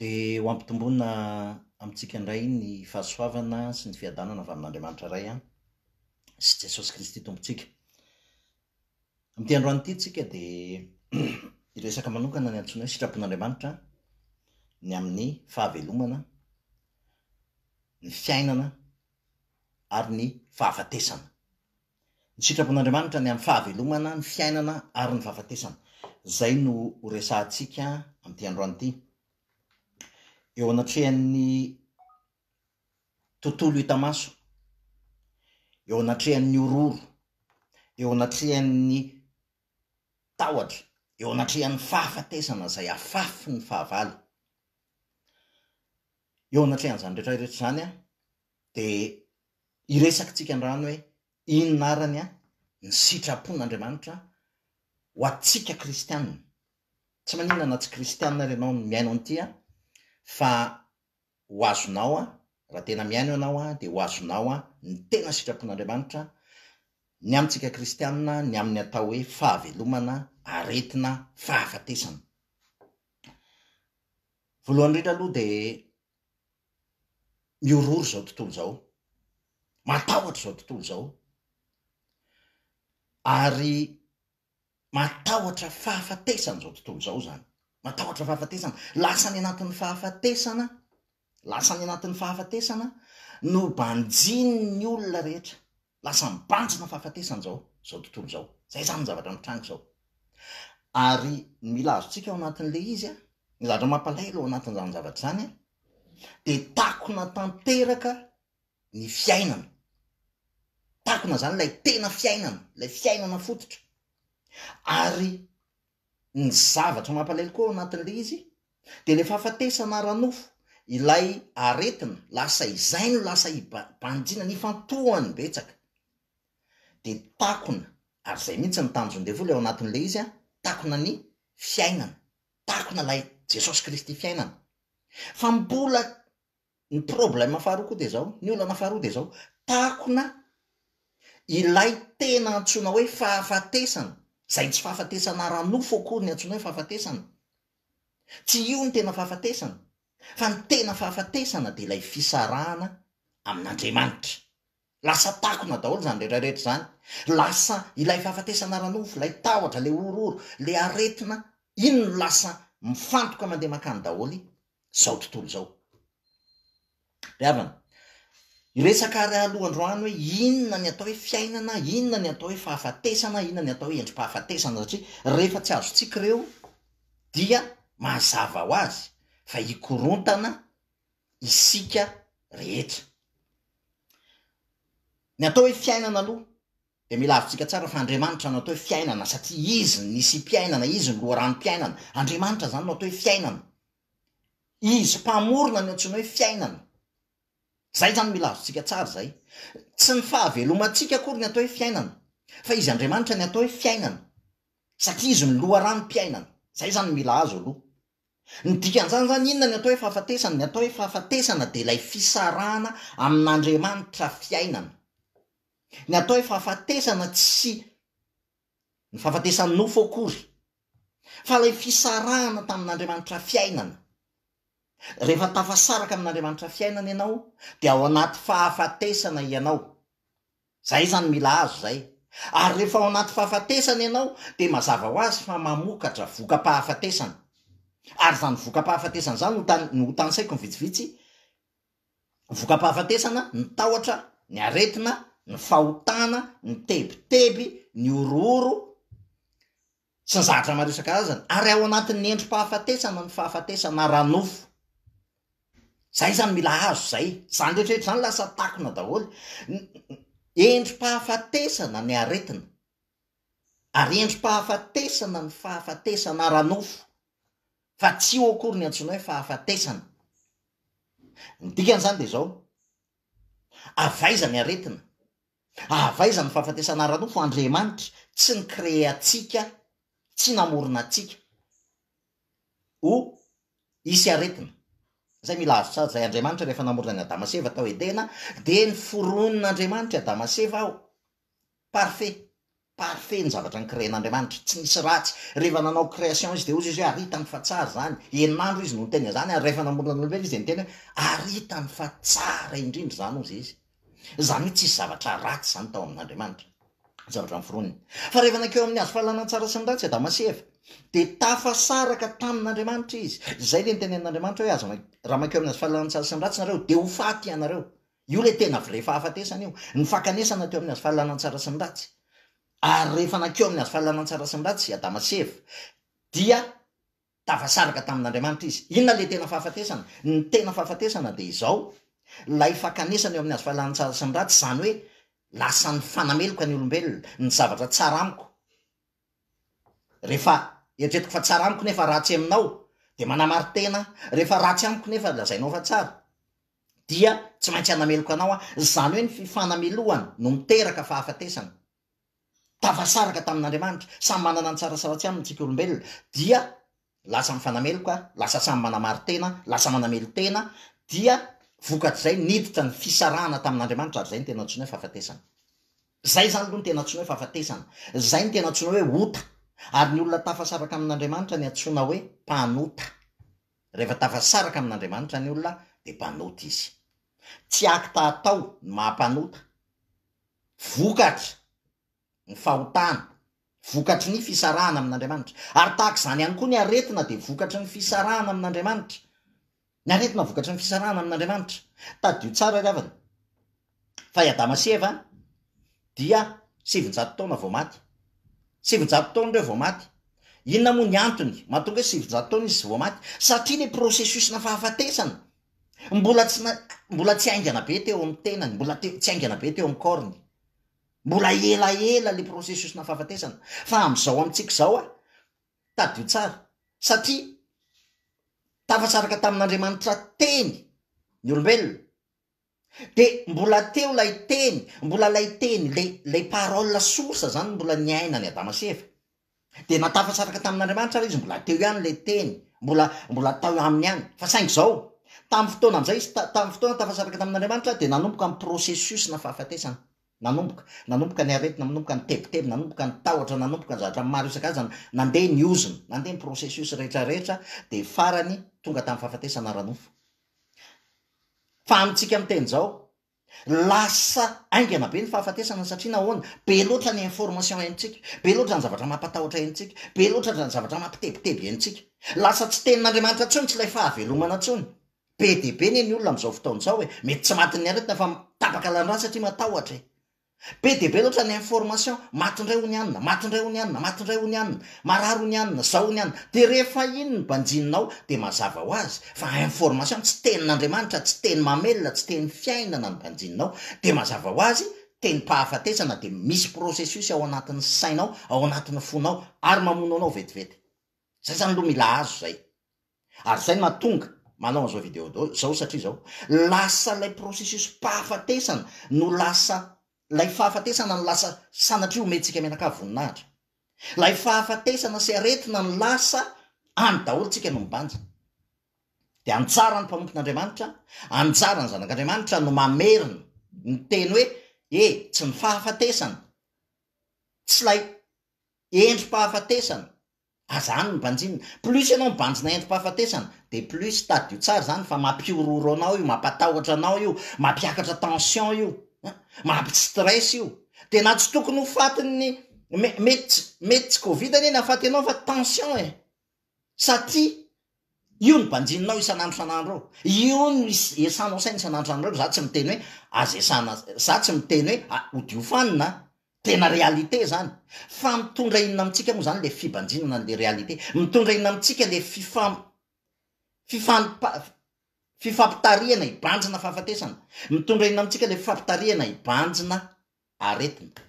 Dia ho ampitomboina amintsika indray ny fahasoavana sy ny fiadanana avy amin'Andriamanitra Ray sy Jesosy Kristy Tompontsika. Amin'ity androany ity tsika dia hiresaka manokana ny antsoina hoe sitrapon'Andriamanitra ny amin'ny fahavelomana, ny fiainana ary ny fahafatesana. Ny sitrapon'Andriamanitra ny amin'ny fahavelomana, ny fiainana ary ny fahafatesana. Izay no ho resahantsika amin'ity androany ity. Eo anatrehan'ny tontolo hita maso, eo anatrehan'ny horohoro, eo anatrehan'ny tahotra, eo anatrehan'ny fahafatesana izay afafy ny fahavalo. Eo anatrehan'izany rehetra rehetra izany, Dia hiresaka tsika androany hoe inona arany an ny sitrapon' Andriamanitra an ho atsika kristiana. Tsy maninona na tsy kristiana ary ianao no mihaino an'ity an fa ho azonao an raha tena mihaino ianao an dia ho azonao an ny tena sitrapon' Andriamanitra ny amintsika kristiana ny amin'ny atao hoe fahavelomana, aretina, fahafatesana. Voalohany indrindra aloha dia mihorohoro izao tontolo izao, matahotra izao tontolo izao, ary matahotra fahafatesana izao tontolo izao izany, matahotra fahafatesana, lasa any anatin'ny fahafatesana, lasa any anatin'ny fahafatesana no banjin'ny olona rehetra, Lasa mibanjina fahafatesana izao izao tontolo izao. Izay izany ny zavatra mitranga izao. Ary ny mila azontsika ao anatin'ilay izy an, ny zavatra mampalahelo ao anatin'izany zavatra izany an, dia takona tanteraka ny fiainana. Takona izany ilay tena fiainana, ilay fiainana fototra. Ary Ny zavatra mampalahelo koa ao anatin'ilay izy dia ilay fahafatesana ara-nofo, ilay aretina, lasa izay no lasa i Banjina, nifantohany betsaka. Dia takona, ary izay mihitsy ny tanjon'ny devoly ao anatin'ilay izy, takona ny fiainana, takona ilay Jesosy Kristy fiainana. Fa mbola Ny problème faharoa koa dia izao, ny olana faharoa dia izao, takona ilay tena antsoina hoe fahafatesana, izay tsy fahafatesana ara-nofo akory ny antsoina hoe fahafatesana. Tsy io ny tena fahafatesana, fa ny tena fahafatesana dia ilay fisarahana amin'Andriamanitra. Lasa takona daholo izany rehetra rehetra izany. Lasa ilay fahafatesana ara-nofo, ilay tahotra, ilay horohoro, ilay aretina, iny no lasa mifantoka mandeha mankany daholo izao tontolo izao. Ry havana, hiresaka ary aloha androany hoe inona ny atao hoe fiainana, inona ny atao hoe fahafatesana, inona ny atao hoe endri-pahafatesana satria rehefa tsy azontsika ireo dia mazava ho azy fa hikorontana isika rehetra. Ny atao hoe fiainana aloha dia mila azontsika tsara fa Andriamanitra no atao hoe fiainana satria Izy no nisi-piainana, Izy no loharanom-piainana. Andriamanitra izany no atao hoe fiainana. Izy mpamorona no antsoina hoe fiainana. Izay izany mila azontsika tsara izay. Tsy ny fahavelomantsika akory ny atao hoe fiainana fa Izy Andriamanitra ny atao hoe fiainana satria Izy no loharanom-piainana. Izay izany mila azo aloha. Ny dikan'izany izany inona ny atao hoe fahafatesana? Ny atao hoe fahafatesana dia ilay fisarahana amin'Andriamanitra fiainana. Ny atao hoe fahafatesana tsy ny fahafatesan'ny nofo akory fa ilay fisarahana tamin'Andriamanitra fiainana. Rehefa tafasaraka amin'Andriamanitra fiainana ianao dia ao anaty fahafatesana ianao. Izay izany mila azo izay. Ary rehefa ao anaty fahafatesana ianao dia mazava ho azy fa mamokatra voka-pahafatesana. Ary izany voka-pahafatesana izany ho tany, no ho tanisaiko ny vitsivitsy, voka-pahafatesana, ny tahotra, ny aretina, ny fahotana, ny tebiteby, ny horohoro, sy ny zavatra maro isan-karazany ary ao anatin'ny endri-pahafatesana ny fahafatesana ara-nofo. Izay izany mila azo izay. Izany rehetrarehetra izany lasa takona daholo. Endri-pahafatesana ny aretina ary endri-pahafatesana ny fahafatesana ara-nofo fa tsy io akory ny antsoina hoe fahafatesana. Ny dikan'izany dia izao, avaiza ny aretina? Avy aiza ny fahafatesana ara-nofo? Andriamanitra tsy ni-créer antsika, tsy namorona antsika ho hisy aretina. Izay mila azo tsara izay, Andriamanitra rehefa namorona an'i Adama sy Eva tao Edena dia niforonin'Andriamanitra i Adama sy Eva ho parfait. Parfait ny zavatra nikrean'Andriamanitra, tsy nisy ratsy. Rehefa nanao création izy dia hozy izy hoe ary hitany fa tsara izany. Enin'andro izy no niteny an'izany ary rehefa namorona ny olombelona izy dia niteny hoe ary hitany fa tsara indrindra izany hozy izy. Izany hoe tsisy zavatra ratsy izany tao amin'Andriamanitra. Zavatra noforoniny. Fa rehefa nankeo amin'ny hazo fahalalana ny tsara sy ny ratsy i Adama sy Eva dia tafasaraka tamin'Andriamanitra izy. Izay ilay nitenenin'Andriamanitra hoe aza, raha mankeo amin'ny hazo fahalalana ny tsara sy ny ratsy ianareo dia ho faty ianareo. Io ilay tena vrai fahafatesana io. Ny fakanesana teo amin'ny hazo fahalalana tsara sy ny ratsy. Ary rehefa nankeo amin'ny hazo fahalalana tsara sy ny ratsy i Adama sy Eva dia tafasaraka tamin'Andriamanitra izy. Inona ilay tena fahafatesana? Ny tena fahafatesana dia izao, ilay fakanesana eo amin'ny hazo fahalalana tsara sy ny ratsy, izany hoe lasa nifanameloka ny olombelona, ny zavatra tsara amiko, Rehefa eritreretiko fa tsara amiko nefa ratsy aminao, dia manamari-tena, rehefa ratsy amiko nefa lazainao fa tsara, dia tsy maintsy hanameloka anao aho. Izany hoe ny fifanamelohana no miteraka fahafatesana. Tafasaraka tamin'Andriamanitra, samy manana ny tsara sy ratsy aminy isika olombelona, dia lasa mifanameloka, lasa samy manamari-tena, lasa manamelo-tena, dia vokatr'izay niditra ny fisarahana tamin'Andriamanitra, ary izay no tena antsoina hoe fahafatesana. Izay izany aloha no tena antsoina hoe fahafatesana. Izay no tena antsoina hoe ota. Ary ny olona tafasaraka amin'Andriamanitra no antsoina hoe mpanota. Rehefa tafasaraka amin'Andriamanitra ny olona dia mpanota izy. Tsy acte atao no maha-mpanota. Vokatra. ny fahotana, vokatry ny fisarahana amin'Andriamanitra. Ary tahaka izany ihany koa ny aretina dia vokatry ny fisarahana amin'Andriamanitra. Ny aretina vokatry ny fisarahana amin'Andriamanitra. Tadidio tsara ry havana, fa i Adama sy Eva dia sivinjato taona vao maty. Sivinjato taona ireo vao maty. Inona moa ny antony mahatonga hoe sivinjato taona izy vao maty? Satria ilay processus-na fahafatesana mbola tsy mbola tsy haingana be teo amin'ny tenany, mbola tsy haingana be teo amin'ny corps-ny. Mbola elaela le processus na fahafatesana fa amzao amitsika izao a, tadidio tsara satria tafatsaraka tamin'Andriamanitra teny ny olombelona de mbola teo lay teny, mbola lay teny le lay parole source zany mbola niainan'i Adama sy Eva. Dia na tafasaraka tamin'Andriamanitra ary izy, mbola teo ihany ilay Teny, mbola, mbola tao aminy ihany. Fa saingy izao, tamin'ny fotoana amin'izay izy, ta, tamin'ny fotoana tafasaraka tamin'Andriamanitra, dia nanomboka ny processus-na fahafatesana. Nanomboka, nanomboka ny aretina, nanomboka ny tebiteby, nanomboka ny tahotra, nanomboka ny zavatra maro isan-karazany, nandeha ny ozona, nandeha ny processus rehetrarehetra, dia farany tonga tamin'ny fahafatesana ara-nofo. Fa amintsika miteny izao, Lasa haingana be ny fahafatesana satria nahoana? Be loatra ny information henontsika, be loatra ny zavatra mampatahotra henontsika, be loatra ny zavatra mampitebiteby henontsika. Lasa tsy tenin'Andriamanitra intsony, tsy ilay fahavelomana intsony. Be dia be anie ny olona amin'izao fotoana izao e! Mety tsy matin'ny aretina fa tapaka lalan-drà satria matahotra e! Be dia be loatra ny information, maty indray hono i anona, maty indray hono i anona, maty indray hono i anona, marary hono i anona, zao hono i anona, dia rehefa iny ny banjinina ao dia mazava ho azy fa information, tsy tenin'Andriamanitra, tsy teny mamelona, tsy teny fiainana ny banjinina ao, dia mazava ho azy tenim-pahafatesana, dia misy processus ao anatin'ny sainao, ao anatin'ny fonao ary mamono anao vetivety. Izay izany aloha mila azo izay. Ary izay no mahatonga manao an'izao video do izao satria izao, lasa ilay processus-pahafatesana no lasa, ilay fahafatesana no lasa sanatria omentsika mianakavy voninahitra. Ilay fahafatesana sy aretina no lasa any daholo tsika no mibanja. Dia anjaran'ny mpanompon'Andriamanitra, anjaran'ny zanak'Andriamanitra no mamerina ny teny hoe e, tsy ny fahafatesana, tsy ilay endri-pahafatesana, Aza hany ny banjinina. Plus ianao mibanjina entim-pahafatesana dia plus tadio tsara izany fa mampihorohoro anao io, mampatahotra anao io, mampiakatra tension io, mampi-stress io. Dia na tsy tokony ho fatin'ny me, mety tsy, mety tsy covid anie ny hahafaty anao fa tension e! Satria io no banjininao isan'andro isan'andro eo. Io no is, esanao saina isan'andro isan'andro eo. Izaho tsy miteny hoe aza esana, izaho tsy miteny hoe a, hodio fanina an! Tena réalité zany. Fa mitondra inona amintsika moa zany le fibanjinana anle réalité? Mitondra inona amintsika le fifam fifampa fifampitarihana hibanjina fahafatesana? Mitondra inona amintsika le fifampitarihana hibanjina aretina?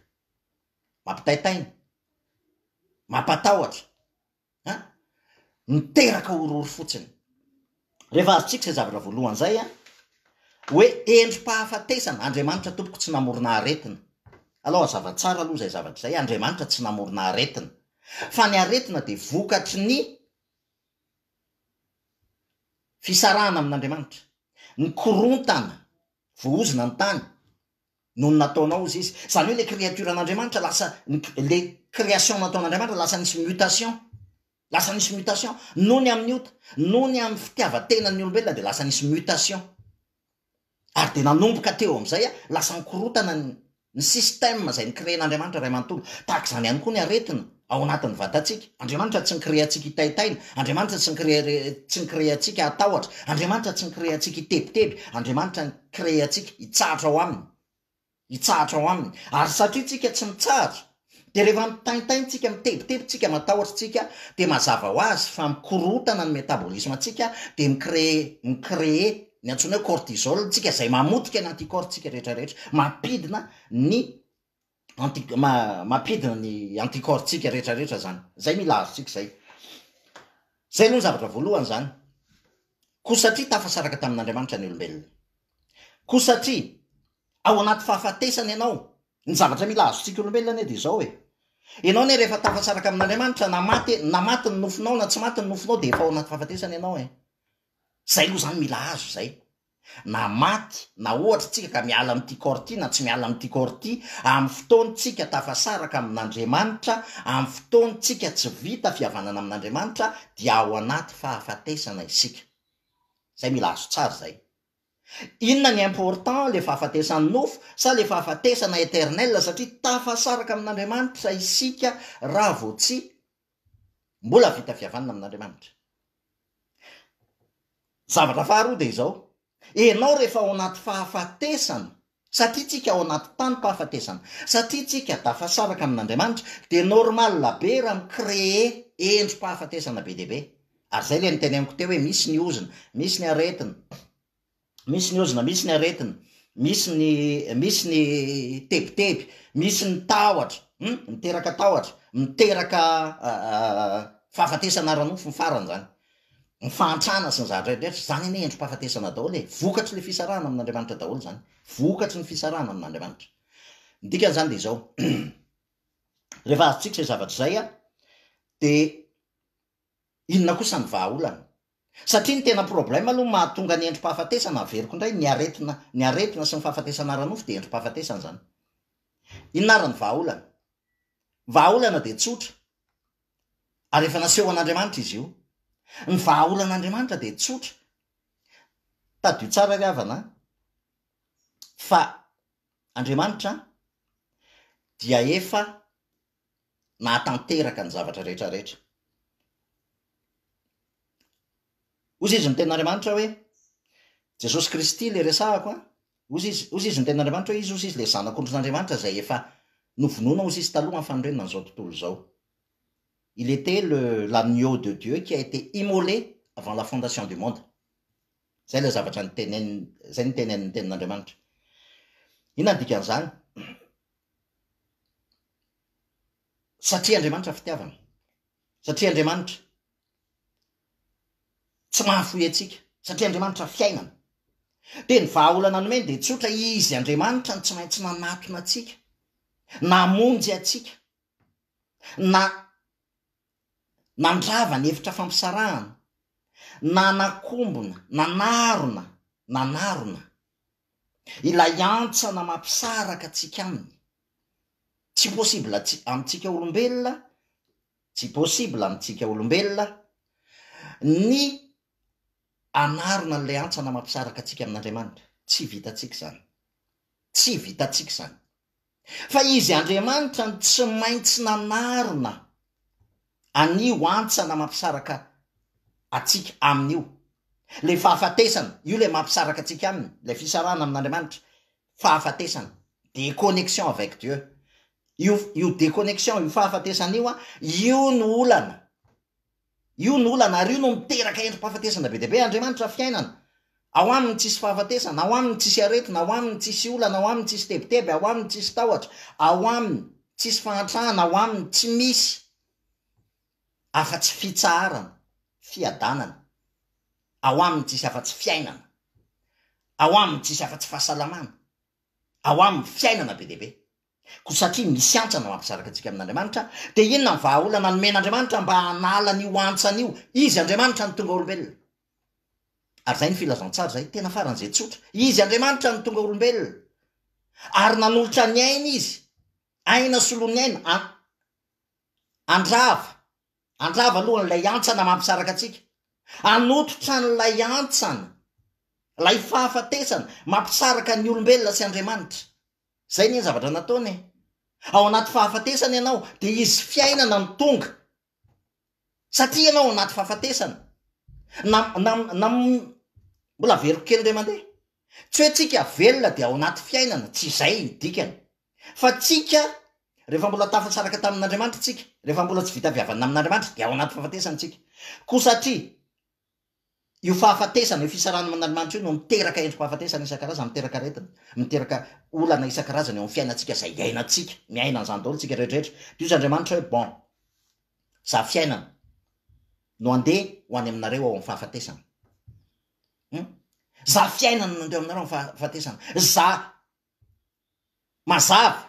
Mampitaitaina. Mampatahotra. an! miteraka horohoro fotsiny. Rehefa azontsika izay zavatra voalohany izay an, hoe endri-pahafatesana, Andriamanitra tompoko tsy namorona aretina. Alao hazava tsara aloha izay zavatra izay, Andriamanitra tsy namorona aretina, fa ny aretina dia vokatry ny fisarahana amin'Andriamanitra, ny korontana, voahozona ny tany, noho ny nataonao ozy izy zany hoe le créature an'Andriamanitra lasa le création nataon'Andriamanitra lasa nisy mutation lasa nisy mutation noho ny amin'ny ota noho ny amin'ny fitiavan-tenan'ny olombelona dia lasa nisy mutation ary dia nanomboka teo amin'izay a lasa nikorotana ny ny système izay nikrean'Andriamanitra ray manontolo tahaka izany ihany koa ny aretina ao anatin'ny vatantsika. Andriamanitra tsy ni-créer antsika hitaitaina, Andriamanitra tsy ni-créer tsy ni-créer antsika hatahotra, Andriamanitra tsy ni-créer antsika hitebiteby, Andriamanitra ni-créer antsika hitsahatra ao Aminy, hitsahatra ao Aminy. Ary satria tsika tsy mitsahatra, dia rehefa mitaintaina tsika, mitebiteby tsika, matahotra tsika, dia mazava ho azy fa mikorotana ny métabolisme antsika, dia mi-créer, mi-créer ny antsoina hoe cortisol ntsika, izay mamotika ny anticorps ntsika rehetra rehetra, mampidina ny. anti mampidina ny anticorps tsika rehetra rehetra zany zay mila azontsika zay zay aloha ny zavatra voalohany zany ko satria tafasaraka tamin'andriamanitra ny olombelona ko satria ao anaty fahafatesana ianao ny zavatra mila azontsika olombelona anie dia zao e ianao anie rehefa tafasaraka amin'andriamanitra na maty na maty ny nofinao na tsy maty ny nofinao dia efa ao anaty fahafatesana ianao e zay aloha zany mila azo zay na maty na ohatra tsika ka miala amin'ity corps ity na tsy miala amin'ity corps ity, amin'ny fotoan tsika tafasaraka amin'Andriamanitra, amin'ny fotoan tsika tsy vita fihavanana amin'Andriamanitra dia ao anaty fahafatesana isika. Zay mila azo tsara zay. Inona ny important le fahafatesan'ny nofo sa le fahafatesana eternel satria tafasaraka amin'Andriamanitra isika raha vao tsy Mbola vita fihavanana amin'Andriamanitra. Zavatra faharoa dia izao, ianao rehefa ao anaty fahafatesana, satria tsika ao anaty tanim-pahafatesana, satria tsika tafasaraka amin'Andriamanitra, dia normal be raha mi-creer endri-pahafatesana be dia be. Ary izay ilay niteny amiko teo hoe misy ny ozona, misy ny aretina. misy ny ozona, misy ny aretina, misy ny misy ny tebiteby, misy ny tahotra, um miteraka tahotra, miteraka fahafatesana ara-nofo ny farany izany, ny fahantrana sy ny zavatra rehetra, izany anie endri-pahafatesana daholo e, vokatry le fisarahana amin'Andriamanitra daholo izany, vokatry ny fisarahana amin'Andriamanitra, ny dikan'izany dia izao, rehefa azontsika izay zavatra izay dia Inona kosa ny vahaolana? Satria ny tena problème aloha mahatonga ny endri-pahafatesana, averiko indray, ny aretina ny aretina sy ny fahafatesana ara-nofo dia endri-pahafatesana izany. Inona ary ny vahaolana? Ny vahaolana dia tsotra ary efa nasehon'Andriamanitra izy io. Ny vahaolan'Andriamanitra dia tsotra, tadidio tsara ry havana an, fa Andriamanitra dia efa nahatanteraka ny zavatra rehetra rehetra. Ozy izy ny ten'Andriamanitra hoe, Jesosy Kristy le resahako an, ozy izy, ozy izy ny ten'Andriamanitra hoe izy ozy izy le zanak'ondrin'Andriamanitra zay efa novonoina ozy izy taloha amin'ny fanorenana an'izao tontolo izao. Il était le l'agneau de Dieu qui a été immolé avant la fondation du monde. Zay le zavatra nitenen, zay nitenen'ny tenin'Andriamanitra. Inona ny dikan'izany? Satria Andriamanitra fitiavana. Satria Andriamanitra tsy mahafoy antsika. Satria Andriamanitra fiainana. Dia ny vahaolana nomeny dia tsotra, Izy Andriamanitra no tsy maintsy nanatona antsika, namonjy antsika, na nandrava ny efitra fampisarahana, nanakombona, nanarona, nanarona, ilay hantsana mampisaraka antsika aminy. Tsy possible amintsika olombelona, tsy possible amintsika olombelona ny hanarona an'ilay hantsana mampisaraka antsika amin'Andriamanitra. Tsy vitantsika izany. Tsy vitantsika izany. Fa Izy Andriamanitra no tsy maintsy nanarina an'io hantsana mampisaraka antsika Aminy io. Ilay fahafatesana, io ilay mampisaraka antsika Aminy, ilay fisarahana amin'Andriamanitra, fahafatesana, déconnexion avec Dieu. Io, io déconnexion, io fahafatesana io, io no olana. Io no olana ary io no miteraka endri-pahafatesana be dia be. Andriamanitra fiainana. Ao Aminy tsisy fahafatesana, ao Aminy tsisy aretina, ao Aminy tsisy olana, ao Aminy tsisy tebiteby, ao Aminy tsisy tahotra, ao Aminy tsisy fahantrana, ao Aminy tsy misy afa-tsy fitsaharana, fiadanana, ao Aminy tsisy afa-tsy fiainana, ao Aminy tsisy afa-tsy fahasalamana, ao Aminy fiainana be dia be. Koa satria misy antsa no hampisaraka antsika amin'Andriamanitra, dia inona ny vahaolana nomen'Andriamanitra mba hanala an'io antsany io? Izy Andriamanitra no tonga olombelona. Ary izay ny filazantsara izay, tena faran'izay tsotra. Izy Andriamanitra no tonga olombelona. Ary nanolotra ny ainy izy, aina solon'ny aina, an, andrava, andrava aloha an'ilay antsana mampisaraka antsika. Anototra an'ilay antsana, ilay fahafatesana, mampisaraka ny olombelona sy Andriamanitra. Izay anie ny zavatra nataony e! Ao anaty fahafatesana ianao, dia hisy fiainana no tonga. Satria ianao ao anaty fahafatesana. Na, na, na, mbola averiko kely indray mandeha. Tsy hoe tsika velona dia ao anaty fiainana, tsy izay ny dikany. Fa tsika, rehefa mbola tafasaraka tamin'Andriamanitra tsika, rehefa mbola tsy vita avy havanina amin'Andriamanitra, dia ao anaty fahafatesana tsika. Koa satria, Io fahafatesana, io fisarahana amin'Andriamanitra io no miteraka endri-pahafatesana isan-karazany, miteraka aretina, miteraka olana isan-karazany eo amin'ny fiainantsika izay iainantsika, miaina an'izany daholo isika rehetrarehetra. Dia hoy izy Andriamanitra hoe, bon, izaho fiainana no handeha ho any aminareo ao amin'ny fahafatesana. Hum? Izaho fiainana no handeha aminareo ao amin'ny fahafatesana. Izaho mazava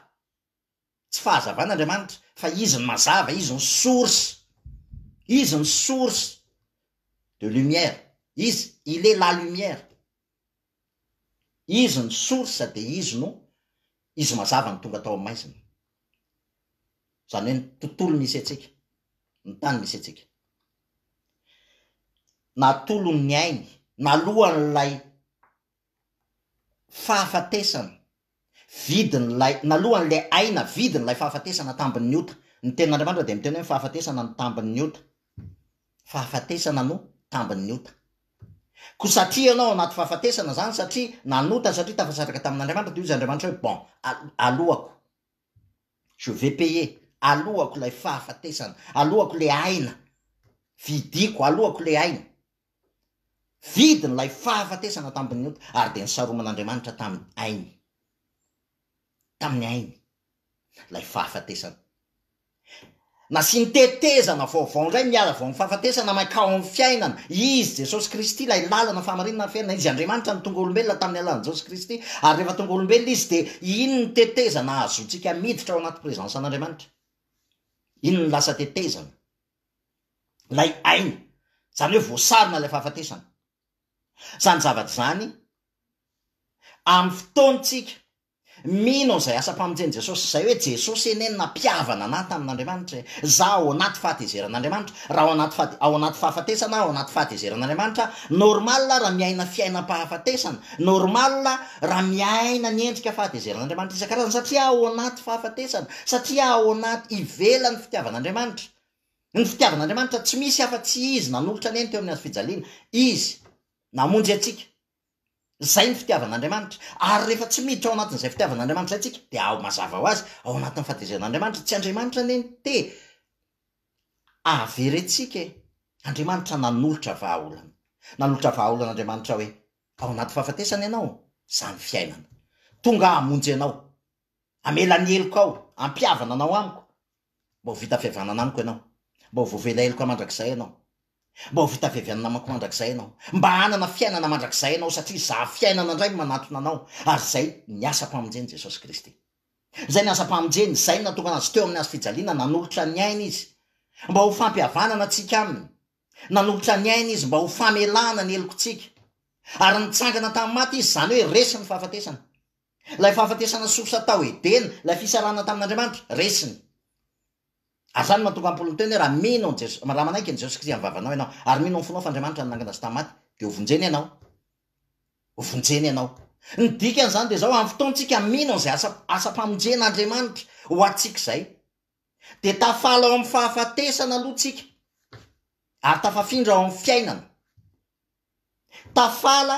Tsy fahazavana Andriamanitra fa izy no mazava, izy no source, izy no source de lumière, izy, il est la lumière, izy no source dia izy no, izy mazava no tonga tao amin'ny maizina. Izany hoe ny tontolo misy antsika, ny tany misy antsika. Natolony ny ainy nalohan'ilay fahafatesana, vidin'ilay, nalohan'ilay aina, vidin'ilay fahafatesana, tambin'ny ota. Ny Tenin'Andriamanitra dia miteny hoe ny fahafatesana no tambin'ny ota. Fahafatesana no tambin'ny ota. Koa satria ianao ao anaty fahafatesana izany, satria nanota, satria tafasandraka tamin'Andriamanitra, dia hoy izy Andriamanitra hoe, bon, alohako. Je vais payer, aloako ilay fahafatesana, aloako ilay aina, vidiako, aloako ilay aina. Vidiny ilay fahafatesana tamin'ny ota, ary dia nisaroman'Andriamanitra tamin'ny ainy, tamin'ny ainy, ilay fahafatesana. Nasiany tetezana vaovao indray ny ala vao nifahafatesana mankao amin'ny fiainana. Izy, Jesosy Kristy, ilay lalana, fahamarinana ary fiainana. Izy, Andriamanitra, no tonga olombelona tamin'ny alalan'i Jesosy Kristy. Ary rehefa tonga olombelona Izy dia iny ny tetezana ahazoantsika miditra ao anaty présence an'Andriamanitra. Iny no lasa tetezana. Ilay aina. Izany hoe voasarona ilay fahafatesana. Izany zavatra izany amin'ny fotoantsika. Mino an'izay asam-pamonjen'i Jesosy izay hoe Jesosy anie no nampihavana anah tamin'Andriamanitra e! Za ao anaty fahatezeran'Andriamanitra, raha ao anaty fahate, ao anaty fahafatesana aho, ao anaty fahatezeran'Andriamanitra aho, normal raha miaina fiainam-pahafatesana, normal raha miaina ny endrika fahatezeran'Andriamanitra isan-karazany satria ao anaty fahafatesana, satria ao anaty, ivelan'ny fitiavan'Andriamanitra. Ny fitiavan'Andriamanitra tsy misy afa-tsy Izy nanolotra anie ny teo amin'ny hazofijaliana, Izy namonjy antsika. Izay ny fitiavan'Andriamanitra. Ary rehefa tsy miditra ao anatin'izay fitiavan'Andriamanitra izay isika, dia ao mazava ho azy, ao anatin'ny fahatezeran'Andriamanitra. Tsy Andriamanitra anie no te hahaverentsika e! Andriamanitra nanolotra vahaolana. Nanolotra vahaolana Andriamanitra hoe, ao anaty fahafatesana ianao, izany fiainana. Tonga aho hamonjy anao. Hamela ny helokao, hampihavana anao amiko. Mba ho vita avy avy anana amiko ianao. Mba ho voavela heloko mandrakizay ianao. Mba ho vita avy avy anana amiko mandrakizay ianao. Mba hanana fiainana mandrakizay ianao satria izaho fiainana indray no manatona anao ary izay ny asam-pamonjen'i Jesosy Kristy. Izay ny asam-pamonjeny, izay ny natongana Azy teo amin'ny hazo fijaliana, nanolotra ny ainy Izy mba ho fampihavanana antsika Aminy. Nanolotra ny ainy Izy mba ho famelana ny helokontsika. Ary nitsangana tamin'ny maty Izy, izany hoe resy ny fahafatesana. Ilay fahafatesana sosa tao Edena, ilay fisarahana tamin'Andriamanitra, resiny. Ary izany no mahatonga an'i Paoly miteny hoe, raha mino an'i Jesosy, raha manaiky an'i Jesosy Kristy amin'ny vavanao ianao, ary mino amin'ny fonao fa Andriamanitra no nangana azy tamin'ny maty, dia ho vonjena ianao. Ho vonjena ianao. Ny dikan'izany dia izao, amin'ny fotoantsika mino an'izay asa, asam-pamonjena Andriamanitra ho antsika izay, dia tafala ao amin'ny fahafatesana aloha tsika, ary tafafindra ao amin'ny fiainana. Tafala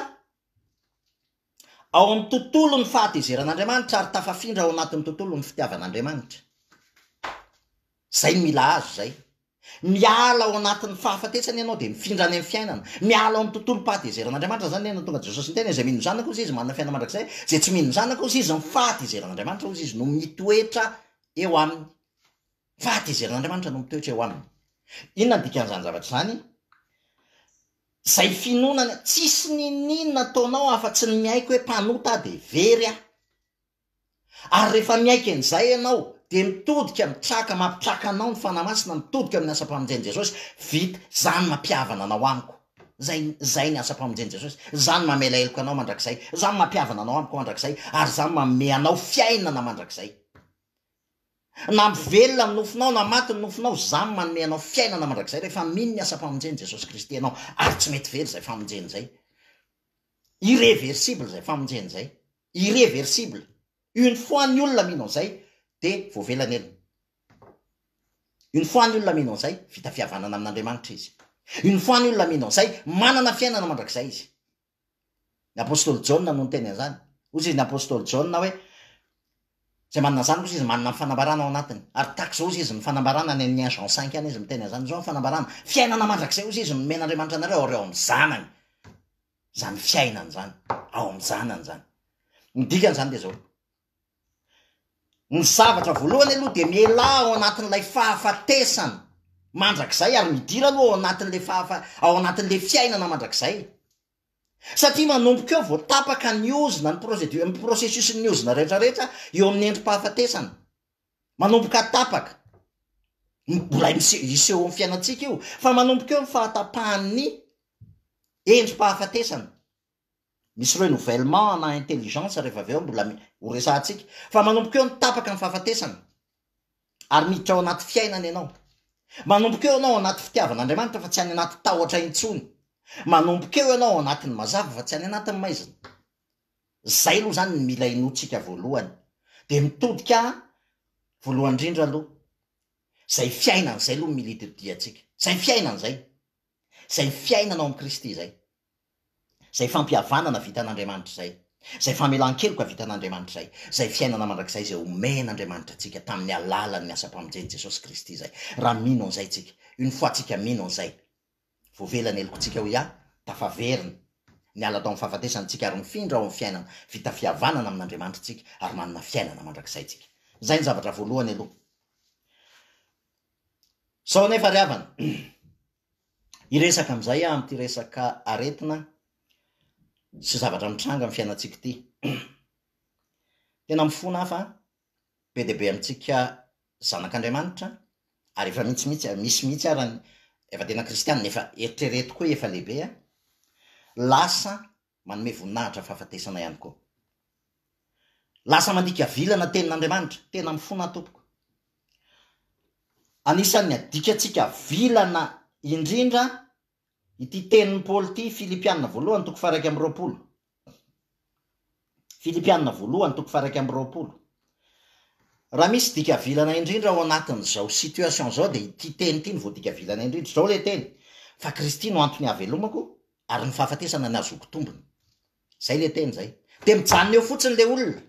ao amin'ny tontolon'ny fahatezeran'Andriamanitra ary tafafindra ao anatin'ny tontolon'ny fitiavan'Andriamanitra. Izay no mila azy izay. Miala ao anatin'ny fahafatesana ianao dia mifindra any amin'ny fiainana. Miala ao amin'ny tontolom-pahatezeran'Andriamanitra izany ianao, tonga dia Jesosy niteny hoe izay mino ny Zanako hozy izy manana fiainana mandrakizay, izay tsy mino ny Zanako hozy izy ny fahatezeran'Andriamanitra hozy izy no mitoetra eo aminy. Fa tezeran'Andriamanitra no mitoetra eo aminy. Inona ny dikan'izany zavatra izany? Izay finoana, tsisy n'inon'inona ataonao afa-tsy ny miaiky hoe mpanota aho dia very aho. Ary rehefa miaiky an'izay ianao, dia mitodika mitraka, mampitraka anao ny Fanahy Masina, mitodika amin'ny asam-pamonjen'i Jesosy, vita, izaho no mampihavana anao amiko. Izay, izay ny asam-pamonjen'i Jesosy. Izaho no mamela heloka anao mandrakizay, izaho no mampihavana anao amiko mandrakizay, ary izaho no manome anao fiainana mandrakizay. Na ampy velona ny nofonao na maty ny nofonao, izaho no manome anao fiainana mandrakizay rehefa mino ny asam-pamonjen'i Jesosy Kristy ianao, ary tsy mety very izay famonjena izay. Irreversible izay famonjena izay. Irreversible. Une fois ny olona mino an'izay, dia voavela ny helony. Une fois ny olona mino an'izay, vita fihavanana amin'Andriamanitra izy. Une fois ny olona mino an'izay, manana fiainana mandrakizay izy. Ny apostoly Jaona no niteny an'izany. Hoy izy ny apostoly Jaona hoe, Izay manana izany kosa izy manana ny fanambarana ao anatiny. Ary tahaka izao hoy izy ny fanambarana, any amin'ny un Jean cinq any izy miteny an'izany, izao ny fanambarana, Fiainana mandrakizay hoy izy no nomen'Andriamanitra anareo ary ao amin'ny Zanany izany fiainana izany, ao amin'ny Zanany izany. Ny dikan'izany dia izao, Ny zavatra voalohany aloha dia mialà ao anatin'ilay fahafatesana mandrakizay ary midira aloha ao anatin'ilay fahafa- ao anatin'ilay fiainana mandrakizay. Satria manomboka eo vao tapaka ny ozona, ny prosedu- ny processus-n'ny ozona rehetrarehetra eo amin'ny endri-pahafatesana. Manomboka tapaka. M- Mbola mise- hiseho amin'ny fiainantsika io, fa manomboka eo ny fahatapahan'ny endri-pahafatesana. Misy renouvellement ana intelligence rehefa avy eo mbola ho resahantsika. Fa manomboka eo ny tapaka ny fahafatesana. Ary miditra ao anaty fiainana ianao. Manomboka eo ianao ao anaty fitiavan'Andriamanitra fa tsy any anaty tahotra intsony. Manomboka eo ianao ao anatin'ny mazava fa tsy any anatin'ny maizina. Izay aloha izany ny mila inoantsika voalohany. Dia mitodika voalohany indrindra aloha. Izay fiainana izay aloha no mila itodihantsika. Izay fiainana izay. Izay fiainana ao amin'i Kristy izay. izay fampihavanana vitan'Andriamanitra izay, izay famelan-keloka vitan'Andriamanitra izay, izay fiainana mandrakizay izay omen'Andriamanitra antsika tamin'ny alalan'ny asam-pamonjen'i Jesosy Kristy izay, raha mino an'izay isika, une fois tsika mino an'izay, voavela ny helokontsika hoy aho, tafaverina, niala tao amin'ny fahafatesana isika ary mifindra ao amin'ny fiainana vita fihavanana amin'Andriamanitra isika ary manana fiainana mandrakizay isika. Izay ny zavatra voalohany aloha. Sao anefa ry havana, Hiresaka amin'izay aho amin'ity resaka aretina sy zavatra mitranga amin'ny fiainantsika ity. Tena mifona aho fa be dia be amintsika zanak'Andriamanitra ary efa mihitsy mihitsy misy mihitsy ary efa tena kristianina efa eritrereto koa efa lehibe lasa Manome voninahitra fahafatesana ihany koa. Lasa mandika vilana tenin'Andriamanitra. Tena mifona aho tompoko. Anisan'ny adikantsika vilana indrindra ity tenin'i Paoly ity, Filipiana voalohany toko faha iraika amby roapolo. Filipiana voalohany toko faha iraika amby roapolo. Raha misy dika vilana indrindra ao anatin'izao situation izao dia ity teny ity no voadika vilana indrindra. Izao ilay teny, fa Kristy no antony hahavelomako, Ary ny fahafatesana nazoako tombony. Zay le teny zay. De mijanona eo fotsiny le olona.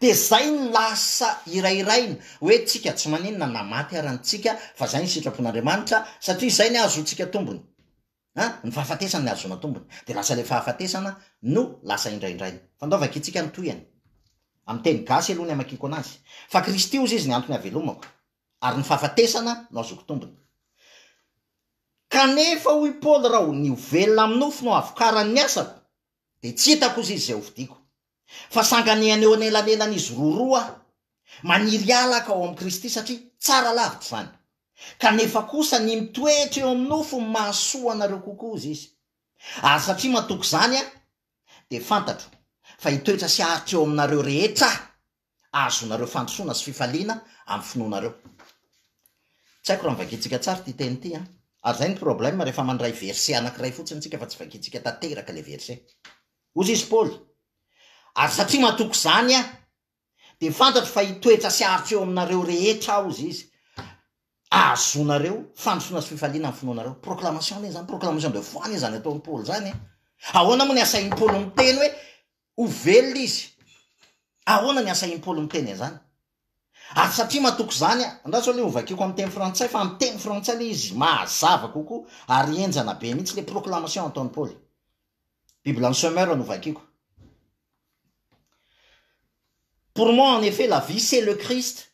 De zay no lasa hirahiraina hoe tsika tsy maninona na maty ara ny tsika fa zay ny sitrapon'Andriamanitra satria zay ny ahazoantsika tombony. An, ny fahafatesana ny ahazoana tombony. De lasa le fahafatesana no lasa hindraindraina. Fandaovako itsika ny tohiny. Amin'ny teny gasy aloha ny hamakiako anazy. Fa Kristy ozy izy ny antony havelomako. ary ny fahafatesana no azoko tombony. Kanefa, hoy i Paoly, raha ny ho velona amin'ny nofo no havokaran'ny asako, dia tsy hitako kosa izy izay hofidiako. Fa sanganehana eo anelanelan'izy roroa aho, maniry hialaka ao amin'i Kristy, satria tsara lavitra izany. Kanefa kosa, ny mitoetra eo amin'ny nofo no mahasoa anareo kokoa, hoy izy. Ary satria matoky izany aho, dia fantatro fa hitoetra sy haharitra eo aminareo rehetra aho, hahazoanareo fandrosoana sy fifaliana amin'ny finoanareo. Tsy haiko raha novakiantsika tsara ity teny ity an! Ary izay no problème rehefa mandray verset anankiray fotsiny isika fa tsy vakiantsika tanteraka ilay verset. Hoy izy Paoly, Ary satria matoky izany aho, dia fantatro fa hitoetra sy haharitra eo aminareo rehetra aho, hozy izy, hahazoanareo fandrosoana sy fifaliana amin'ny finoanareo. Proclamation anie izany, proclamation de foi anie izany ataon'i Paoly izany e! Ahoana moa ny asahin'i Paoly miteny hoe Ho velona izy. Ahoana ny asa im-polo miteny an'izany? Ary satria matoky izany aho, andraso aloha hovakiko amin'ny teny frantsay, fa amin'ny teny frantsay ilay izy mahazava kokoa, ary henjana be mihitsy ilay proclamation ataon'i Paoly. Biblan'i Summer no vakiko. Pour moi, en effet, la vie, c'est le Christ.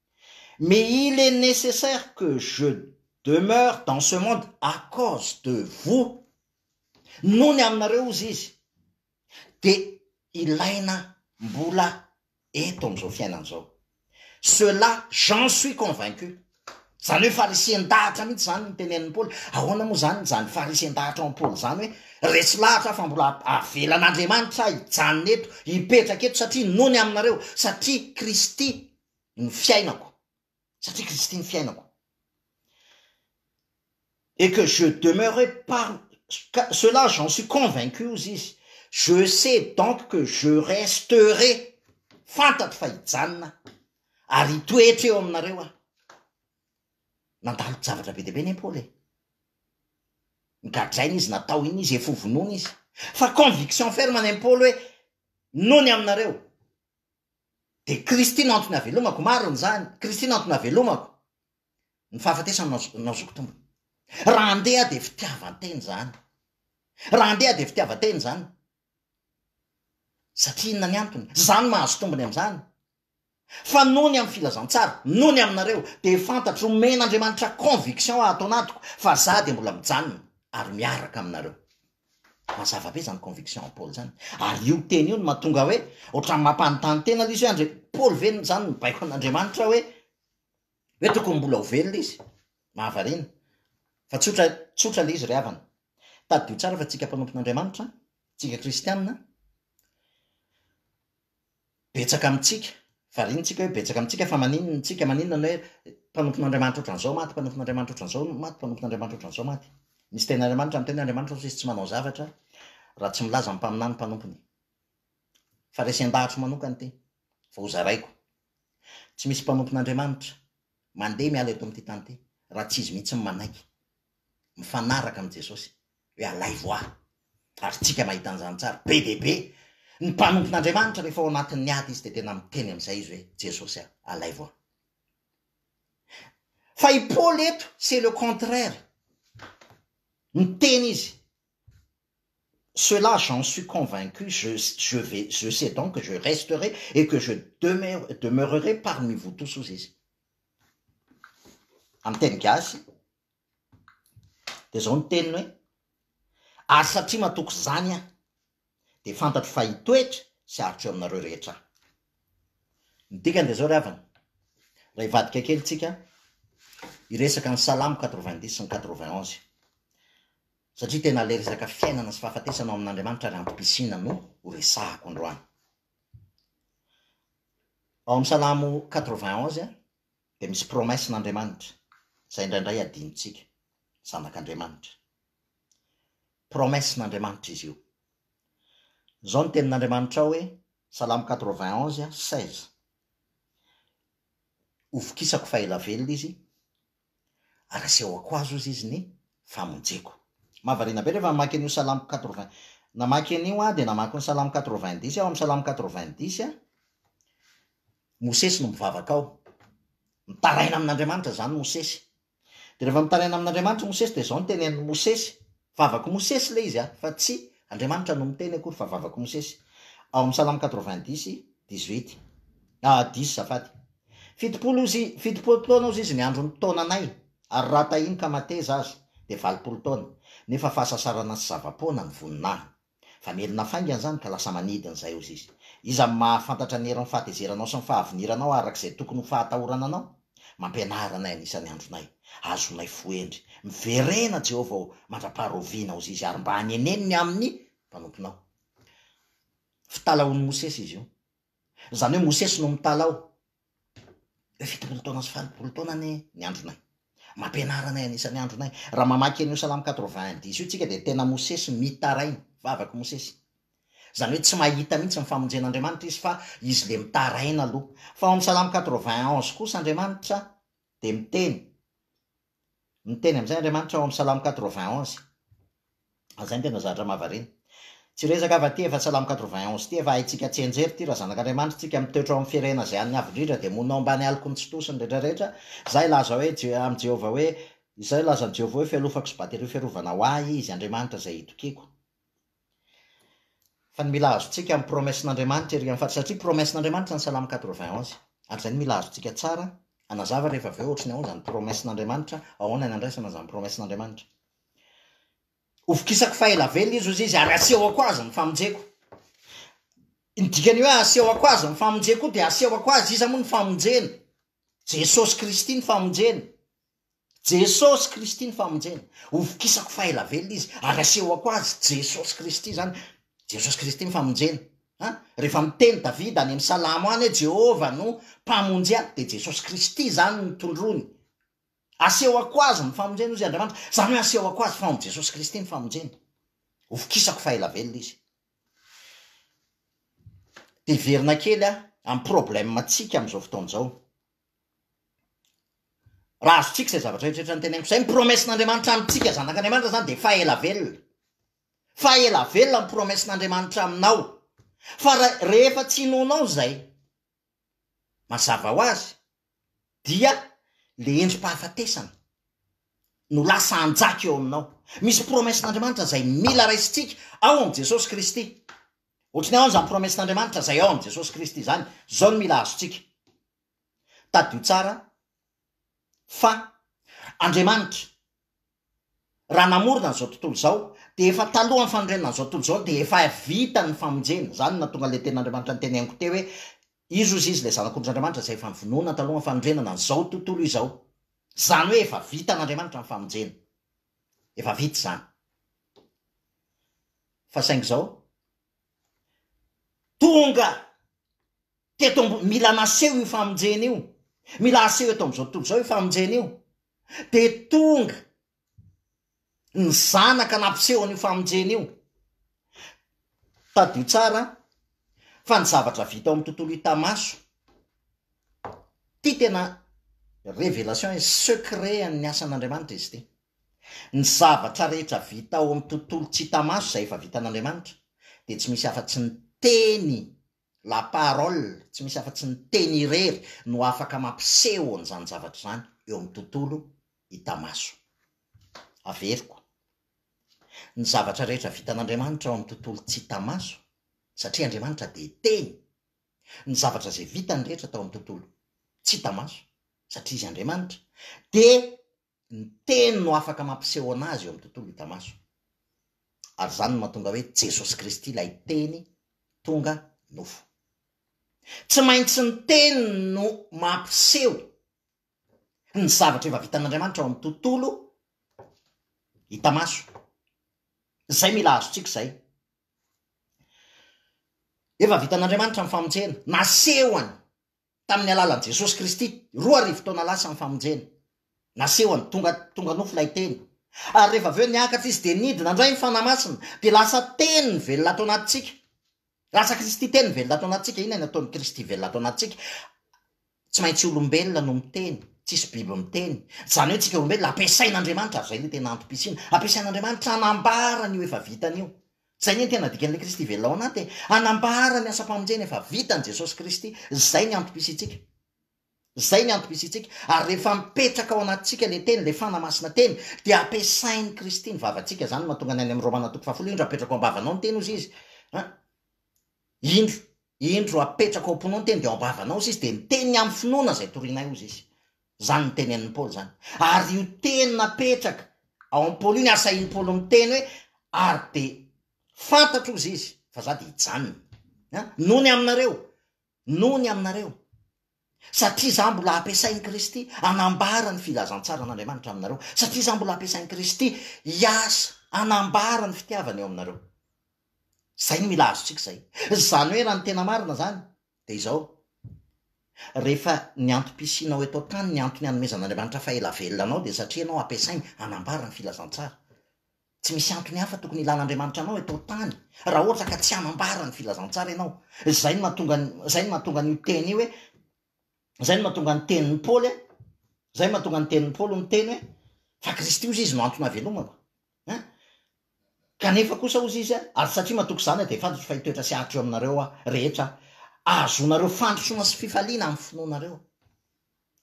Mais il est necessaire que je demeure dans ce monde à cause de vous, noho ny aminareo ozy izy dia ilaina mbola eto amin'izao fiainana izao. Cela j'en suis convaincu. Izany hoe farisian-dahatra mihitsy izany no tenenin'i Paoly. Ahoana moa izany izany farisian-dahatra ao amin'i Paoly izany hoe resy lahatra aho fa mbola avelan'Andriamanitra hijanona eto, hipetraka eto satria noho ny aminareo, satria Kristy ny fiainako satria Kristy ny fiainako et que je demeurerai par cela j'en suis convaincu hozy izy je sais donc que je resterai fantatro fa hijanona aho ary hitoetra eo aminareo aho nandalo javatra be dia be ny Paoly e gadraina izy natao iny izy efa hovonoina izy fa conviction ferme ny Paoly hoe nony aminareo Dia Kristy no antony havelomako, marina izany, Kristy no antony havelomako, ny fahafatesany no no azoko tombony. Raha andeha dia fitiavan-tena izany, raha andeha dia fitiavan-tena izany, satria inona ny antony? Izaho no mahazo tombony amin'izany, fa noho ny amin'ny filazantsara, noho ny aminareo, dia fantatro, omen'Andriamanitra conviction ato anatiko, fa izaho dia mbola mijanona ary miaraka aminareo. Mazava be zany conviction an'i Paoly zany. Ary io teny io no mahatonga hoe ohatran'ny mampanontany tena ilay izy hoe andre Paoly ve zany mibaiko an'Andriamanitra hoe hoe tokony mbola ho velona izy. Mahavariana. Fa tsotra tsotra ilay izy ry havana. Tadidio tsara fa tsika mpanompon'Andriamanitra, tsika kristianina, betsaka amintsika, variana tsika hoe betsaka amintsika fa maninona tsika maninona ny hoe mpanompon'Andriamanitra ohatran'izao maty, mpanompon'Andriamanitra ohatran'izao maty, mpanompon'Andriamanitra ohatran'izao maty. Misy teny Andriamanitra miteny hoe Andriamanitra hozy izy tsy manao zavatra raha tsy milaza ny mpaminany mpanompony fa resen-dahatro manokana ity fa ho zaraiko. Tsy misy mpanompon'Andriamanitra mandeha miala eto amin'ity tany ity raha tsy izy mihitsy manaiky. mifanaraka amin'i Jesosy hoe alaivo aho. Ary tsika mahita an'izany tsara, be dia be ny mpanompon'Andriamanitra rehefa ao anatin'ny ady izy dia tena miteny amin'izay izy hoe Jesosy a, alaivo aho. Fa i Paoly eto, c'est le contraire. Miteny izy, Cela, j'en suis convaincu, je, je, vais, je sais donc que je resterai et que je demeure, demeurerai parmi vous tous, hoy izy. Amin'ny teny gasy dia izao ny teniny hoe, ary satria matoky izany aho dia fantatro fa hitoetra sy haritro eo aminareo rehetra aho. Ny dikany dia izao ry havana, raha hivadika kely isika hiresaka ny salamo quatre-vingt-dix sy ny quatre-vingt-onze satria tena ilay resaka fiainana sy fahafatesana ao amin'Andriamanitra ary antom-pisiana no horesahako androany. Ao amin'ny Salamo quatre-vingt onze dia misy promesse n'Andriamanitra izay indraindray adinontsika, zanak'Andriamanitra. Promesse n'Andriamanitra izy io. Izao ny tenin'Andriamanitra ao hoe, Salamo quatre-vingt onze seize, Hovokisako fa ela velona izy, Anasehoko azy ozy izy ny famonjeko. Mahavariana be rehefa mamaky an'io salamo quatre-vingt. Namaky an'io aho dia namaky ny salamo quatre-vingt-dix aho, amin'ny salamo quatre-vingt-dix, Mosesy no mivavaka ao. Mitaraina amin'Andriamanitra izany Mosesy. Dia rehefa mitaraina amin'Andriamanitra Mosesy dia izao no tenenin'i Mosesy, Vavak'i Mosesy ilay izy an, fa tsy Andriamanitra no miteny akory fa vavak'i Mosesy. Ao amin'ny Salamo quatre-vingt-dix, dix-huit. Ah, dix zafady. Fitopolo ozy, fitopolo taona ozy izy ny andron'ny taonanay, ary raha tahiny ka mateza aza, dia valopolo taona. Nefa fahasasarana sy zava-poana ny voninahiny. Fa merina faingana izany ka lasa manidina izay hozy izy. Iza no mahafantatra ny herin'ny fahatezeranao sy ny fahaviniranao araka izay tokony ho fahatahorana anao? Mampianara anay anisan'ny andronay. Azonay fohendry. Miverena Jehovah ô, mandra-paharaoviana hozy izy ary mba aneneno ny amin'ny mpanomponao. Fitalahoan'i Mosesy izy io. Izany hoe Mosesy no mitala ao. Hoe fitopolo taona sy valopolo taona anie ny andronay. Mampianara anay hanisa ny andronay. Raha mamaky an'io Salamo quatre-vingt un dix io tsika dia tena Mosesy mitaraina, vavaka Mosesy. Izany hoe tsy mahita mihitsy ny famonjen'Andriamanitra izy fa izy le mitaraina aloha. Fa ao amin'ny Salamo quatre-vingt onze kosa Andriamanitra dia miteny. Niteny amin'izay Andriamanitra ao amin'ny Salamo quatre-vingt onze. Izay no tena zavatra mahavariana. Tsy resaka avy aty efa Salamo quatre-vingt onze ity efa haintsika tsianjery ity raha zanak'Andriamanitra tsika mitoetra ao amin'ny firenena izay an'ny avo indrindra dia monao ambany aloky ny tsitosiny rehetra rehetra izay hilaza hoe amin'i Jehovah hoe izay hilaza amin'i Jehovah hoe fialofako sy baterio fiarovana ho ahy izy Andriamanitra izay hitokiako. Fa ny mila azontsika amin'ny promesse-n'Andriamanitra ery amin'ny faritra, satria promesse-n'Andriamanitra ny salamo quatre-vingt onze, ary izay no mila azontsika tsara hanazava rehefa avy eo ohatry ny ahoana izany promesse-n'Andriamanitra, ahoana ny andraisana izany promesse-n'Andriamanitra. Hovokisako fa ela velona izy hoy izy ary hasehoko azy ny famonjeko. Ny dikan'ny hoe hasehoko azy ny famonjeko koa dia hasehoko azy, iza moa ny famonjena? Jesosy Kristy ny famonjena. Jesosy Kristy ny famonjena. Hovokisako fa ela velona izy, ary asehoko azy Jesosy Kristy izany. Jesosy Kristy ny famonjena. A, rehefa miteny Davida any amin'ny salamo any hoe Jehovah no mpamonjy ahy, dia Jesosy Kristy izany no tondroiny. Asehoko azy ny famonjena, hozy Andriamanitra. Izany hoe asehoko azy fa ao amin'i Jesosy Kristy ny famonjena. Hovokisako fa ela velona izy. Dia hiverina kely amin'ny problème-ntsika amin'izao fotoana izao. Raha azontsika izay zavatra rehetra noteneniko izay, ny promesse-n'Andriamanitra amintsika zanak'Andriamanitra izany dia faha ela velona. Faha ela velona ny promesse-n'Andriamanitra aminao. Fa rehefa tsy inoanao izay, mazava ho azy, dia ilay endri-pahafatesana no lasa hanjaka eo aminao. Misy promesse-n'Andriamanitra izay mila raisintsika ao amin'i Jesosy Kristy. Ohatry ny ao izany promesse-n'Andriamanitra izay ao amin'i Jesosy Kristy izany, izao no mila azontsika. Tadidio tsara fa Andriamanitra raha namorona an'izao tontolo izao dia efa talohan'ny fanorenana an'izao tontolo izao dia efa vita ny famonjena. Izany no nahatonga an'ilay tenin'Andriamanitra noteneniko teo hoe izy hozy izy ilay zanak'ondrin'Andriamanitra izay efa novonoina talohan'ny fanorenana an'izao tontolo izao. Izany hoe efa vitan'Andriamanitra ny famonjena. efa vita izany. Fa saingy izao, tonga teto ambony, mila naseho io famonjena io, mila aseho eto amin'izao tontolo izao io famonjena io, dia tonga ny zanaka nampiseho an'io famonjena io. Tadidio tsara fa ny zavatra vita ao amin'ny tontolo hita maso, Ity tena révélation et secret an'ny asan'Andriamanitra izy ity. Ny zavatra rehetra vita ao amin'ny tontolo tsy hita maso izay efa vitan'Andriamanitra dia tsy misy afa-tsy ny Teny, la parole, tsy misy afa-tsy ny Teny irery no afaka mampiseho an'izany zavatra izany eo amin'ny tontolo hita maso. Averiko, ny zavatra rehetra vitan'Andriamanitra ao amin'ny tontolo tsy hita maso, satria Andriamanitra dia Teny, ny zavatra izay vitany rehetra tao amin'ny tontolo tsy hita maso, satria Izy Andriamanitra, dia ny Teny no afaka mampisehoana Azy eo amin'ny tontolo hita maso. Ary izany no mahatonga hoe Jesosy Kristy ilay Teny tonga nofo. Tsy maintsy ny Teny no mampiseho ny zavatra efa vitan'Andriamanitra ao amin'ny tontolo hita maso. Izay mila azontsika izay. Efa vitan'Andriamanitra ny famonjena. Nasehony tamin'ny alalan'i Jesosy Kristy, roa arivo taona lasa ny famonjena. Nasehony, tonga, tonga nofo ilay Teny. Ary rehefa avy eo niakatra Izy dia nidina indray ny Fanahy Masina, dia lasa Teny velona ato anatintsika. Lasa Kristy Teny velona ato anatintsika. Inona no ataon'i Kristy velona ato anatintsika? Tsy maintsy olombelona no miteny, tsisy biby miteny. Izany hoe tsika olombelona ampiasain'Andriamanitra, ary izay le tena antom-pisiana, ampiasain'Andriamanitra hanambara an'io efa vitany io. Izay anie ny tena dikan'ilay Kristy velona ao anaty e, hanambara ny asam-pamonjena efa vitan'i Jesosy Kristy, izay ny antom-pisiantsika. Izay ny antom-pisiantsika, ary rehefa mipetraka ao anatintsika le teny, le Fana Masina teny, dia ampiasain'i Kristy ny vavantsika, izany no mahatonga ny any amin'ny Romana toko fahafolo, indro apetrako ambavanao ny teny hozy izy, an, indro, Indro apetrako ao am-pinoany teny dia ao am-bavanao hozy izy dia miteny ny amin'ny finoana izay torianay hozy izy. Izany no tenenin'i Paoly izany. Ary io teny napetraka ao amin'i Paoly io ny asahin'i Paoly miteny hoe ary dia fantatro hozy izy fa za dia hijanona. An? Nony aminareo. Nony aminareo. Satria izaho mbola ampiasain'i Kristy hanambara ny filazantsaran'Andriamanitra aminareo. Satria izaho mbola ampiasain'i Kristy hiasa hanambara ny fitiavany eo aminareo. Izay no mila azontsika izay. Izany hoe raha ny tena marina izany dia izao, rehefa ny antom-pisianao eto an-tany, ny antony hanomezan'Andriamanitra faha-ela velona anao dia satria ianao ampiasainy hanambara ny filazantsara. Tsy misy antony hafa tokony hilan'Andriamanitra anao eto an-tany raha ohatra ka tsy hanambara ny filazantsara ianao. Izay no mahatonga ny, izay no mahatonga an'io teny io hoe, izay no mahatonga ny tenin'i Paoly hoe, izay no mahatonga ny tenin'i Paoly niteny hoe, Fa Kristy, hozy izy, no antony havelomako. Hein? Kanefa kosa, hozy izy, ary satria matoky izany aho, dia efadriko fa hitoetra sy haharitra eo aminareo aho rehetra aho. Ahazoanareo fandrosoana sy fifaliana amin'ny finoanareo.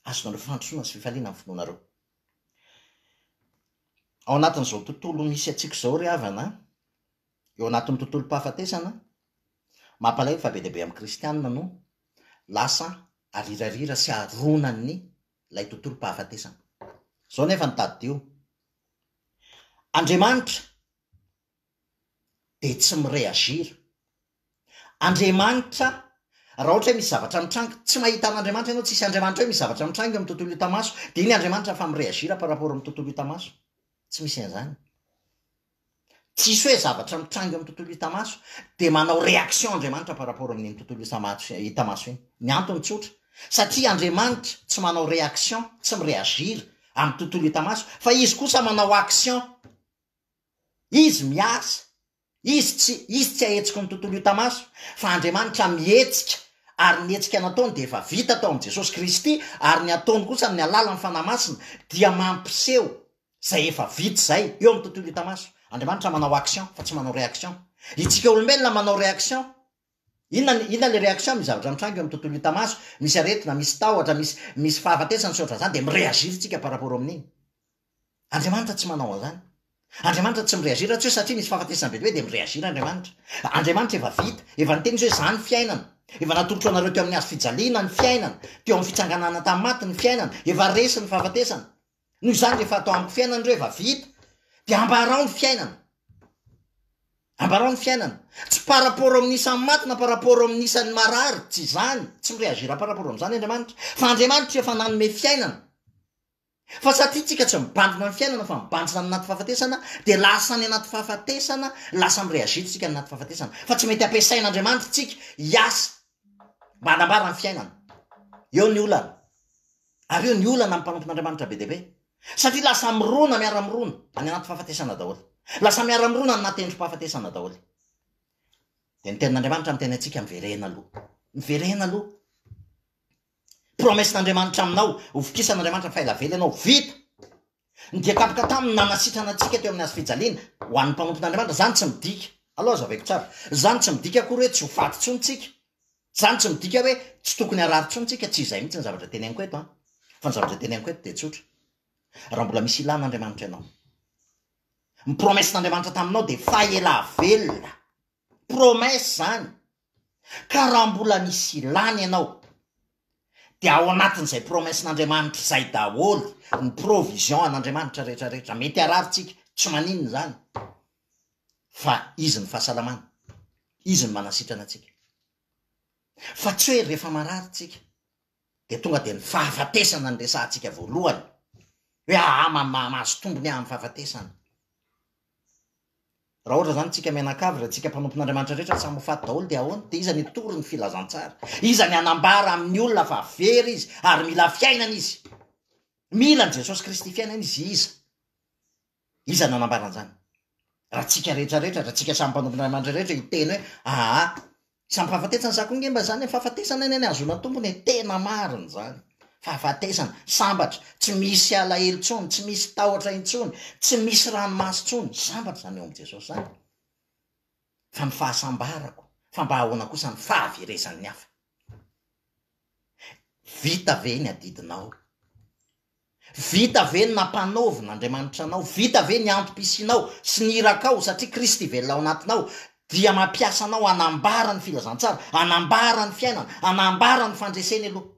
Ahazoanareo fandrosoana sy fifaliana amin'ny finoanareo. Ao anatin'izao tontolo misy antsika izao ry havana an, eo anatin'ny tontolom-pahafatesana an, mampalahelo fa be dia be amin'ny kristianina no lasa arirarira sy aronan'ny ilay tontolom-pahafatesana. Izao nefa no tadidio, Andriamanitra dia tsy mi-réagir. Andriamanitra, raha ohatra hoe misy zavatra mitranga, tsy mahita an'Andriamanitra ianao, tsisy Andriamanitra hoe misy zavatra mitranga eo amin'ny tontolo hita maso, dia iny Andriamanitra efa mi-réagir par rapport amin'ny tontolo hita maso. Tsy misy an'izany. Tsisy hoe zavatra mitranga eo amin'ny tontolo hita maso, dia manao réaction Andriamanitra par rapport amin'iny tontolo hita maso, hita maso iny. Ny antony tsotra, satria Andriamanitra tsy manao réaction, tsy mi-réagir amin'ny tontolo hita maso, fa Izy kosa manao action. Izy miasa. Izy tsy, izy tsy ahetsiky ny tontolo hita maso, fa Andriamanitra mihetsika, ary ny hetsika nataony dia efa vita tao amin'i Jesosy Kristy, ary ny ataony kosa amin'ny alalan'ny Fanahy Masina dia mampiseho izay efa vita izay, eo amin'ny tontolo hita maso. Andriamanitra manao action, fa tsy manao reaction. Itsika olombelona manao reaction. Inona ny inona le réaction amin'ny zavatra mitranga eo amin'ny tontolo hita maso, misy aretina, misy tahotra, misy misy fahafatesana sy ohatran'izany dia mi-réagir tsika par rapport amin'iny. Andriamanitra tsy manao an'izany. Andriamanitra tsy mi-réagir raha tsy hoe satria misy fahafatesana be dia hoe dia mi-réagir Andriamanitra. Andriamanitra efa vita, efa niteny izy hoe izaho ny fiainana. Efa natolotro anareo teo amin'ny hazo fijaliana ny fiainana, teo amin'ny fitsanganana tamin'ny maty ny fiainana, efa resy ny fahafatesana. Noho izany rehefa atao amiko fiainana reva vita dia ambarao ny fiainana ambarao ny fiainana tsy par rapport amin'ny isan'ny maty na par rapport amin'ny isan'ny marary tsy izany tsy mireagir par rapport amin'izany andriamanitra fa andriamanitra efa nanome fiainana fa satria tsika tsy mibandina ny fiainana fa mibanjina ny anaty fahafatesana dia lasa ny anaty fahafatesana lasa mireagir tsika ny anaty fahafatesana fa tsy mety ampiasain'andriamanitra tsika hiasa mba hanambara ny fiainana eo ny olana Ary io ny olana amin'ny mpanompon'Andriamanitra be dia be. Satria lasa mirona miara-mirona any anaty fahafatesana daholo. Lasa miara-mirona any anaty endri-pahafatesana daholo. Dia ny tenin'Andriamanitra miteny antsika, miverena aloha. Miverena aloha. Promesse-n'Andriamanitra aminao, hovokisan'Andriamanitra fa ela vela ianao, vita! Ny dia tampoka taminy nanasitrana antsika teo amin'ny hazo fijaliana, ho an'ny mpanompon'Andriamanitra, izany tsy midika, allo azaveko tsara, izany tsy midika akory hoe tsy ho faty intsony tsika, izany tsy midika hoe tsy tokony harary intsony tsika, tsy izay mihitsy ny zavatra teneniko eto an, fa ny zavatra teneniko eto dia tsotra, raha mbola misy ilàn'Andriamanitra ianao, ny promesse-n'Andriamanitra taminao dia fahelà velona, promesse izany, Ka raha mbola misy ilana ianao dia ao anatin'izay promessen'Andriamanitra izay daholo ny provision an'Andriamanitra rehetra rehetra, mety harary tsika tsy maninona izany fa izy ny fahasalamana, izy ny manasitrana antsika fa tsy hoe rehefa marary tsika dia tonga dia ny fahafatesana no resahantsika voalohany, hoe ahaa mahazo tombony aho amin'ny fahafatesana. Raha ohatra izany isika mianakavy, raha isika mpanompon'Andriamanitra rehetra samy ho faty daholo dia ahoana? Dia iza no hitory ny filazantsara? Iza ny hanambara amin'ny olona fa very izy ary mila fiainana izy? Mila an'i Jesosy Kristy fiainana izy, iza? Iza no hanambara an'izany? Raha antsika rehetra rehetra, raha antsika samy mpanompo an'Andriamanitra rehetra hiteny hoe aa, samy fahafatesana sa koa nge mba izany e, fahafatesana anie ny hahazoana tombony e, tena marina izany, fahafatesana, sambatra, tsy misy alahelo intsony, tsy misy tahotra intsony, tsy misy ranomaso intsony, sambatra izany eo amin'i Jesosy izany, fa ny fahasambarako, fa mba ahoana kosa ny fahaverezan'ny hafa? Vita ve ny adidinao? Vita ve ny nampanaovin' Andriamanitra anao? Vita ve ny antom-pisianao sy ny irakao satria Kristy velona ao anatinao dia mampiasa anao hanambara ny filazantsara, hanambara ny fiainana, hanambara ny fandreseny aloha?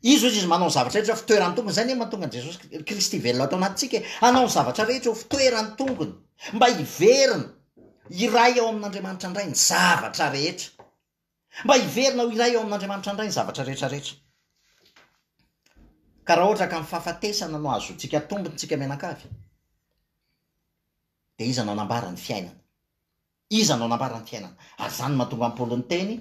Izy hoy Izy, manao ny zavatra rehetra fitoeran'ny tongony. Izay anie no mahatonga an'i Jesosy Kri- Kristy velona ato anatintsika e. Hanao ny zavatra rehetra ho fitoeran'ny tongony mba hiverina hiray ao amin' Andriamanitra indray ny zavatra rehetra. Mba hiverina ho iray ao amin'Andriamanitra indray ny zavatra rehetra rehetra. Ka raha ohatra ka ny fahafatesana no ahazoantsika tombony tsika mianankavy, dia iza no hanambara ny fiainana? Iza no hanambara ny fiainana? Ary izany no mahatonga an'i Paoly niteny,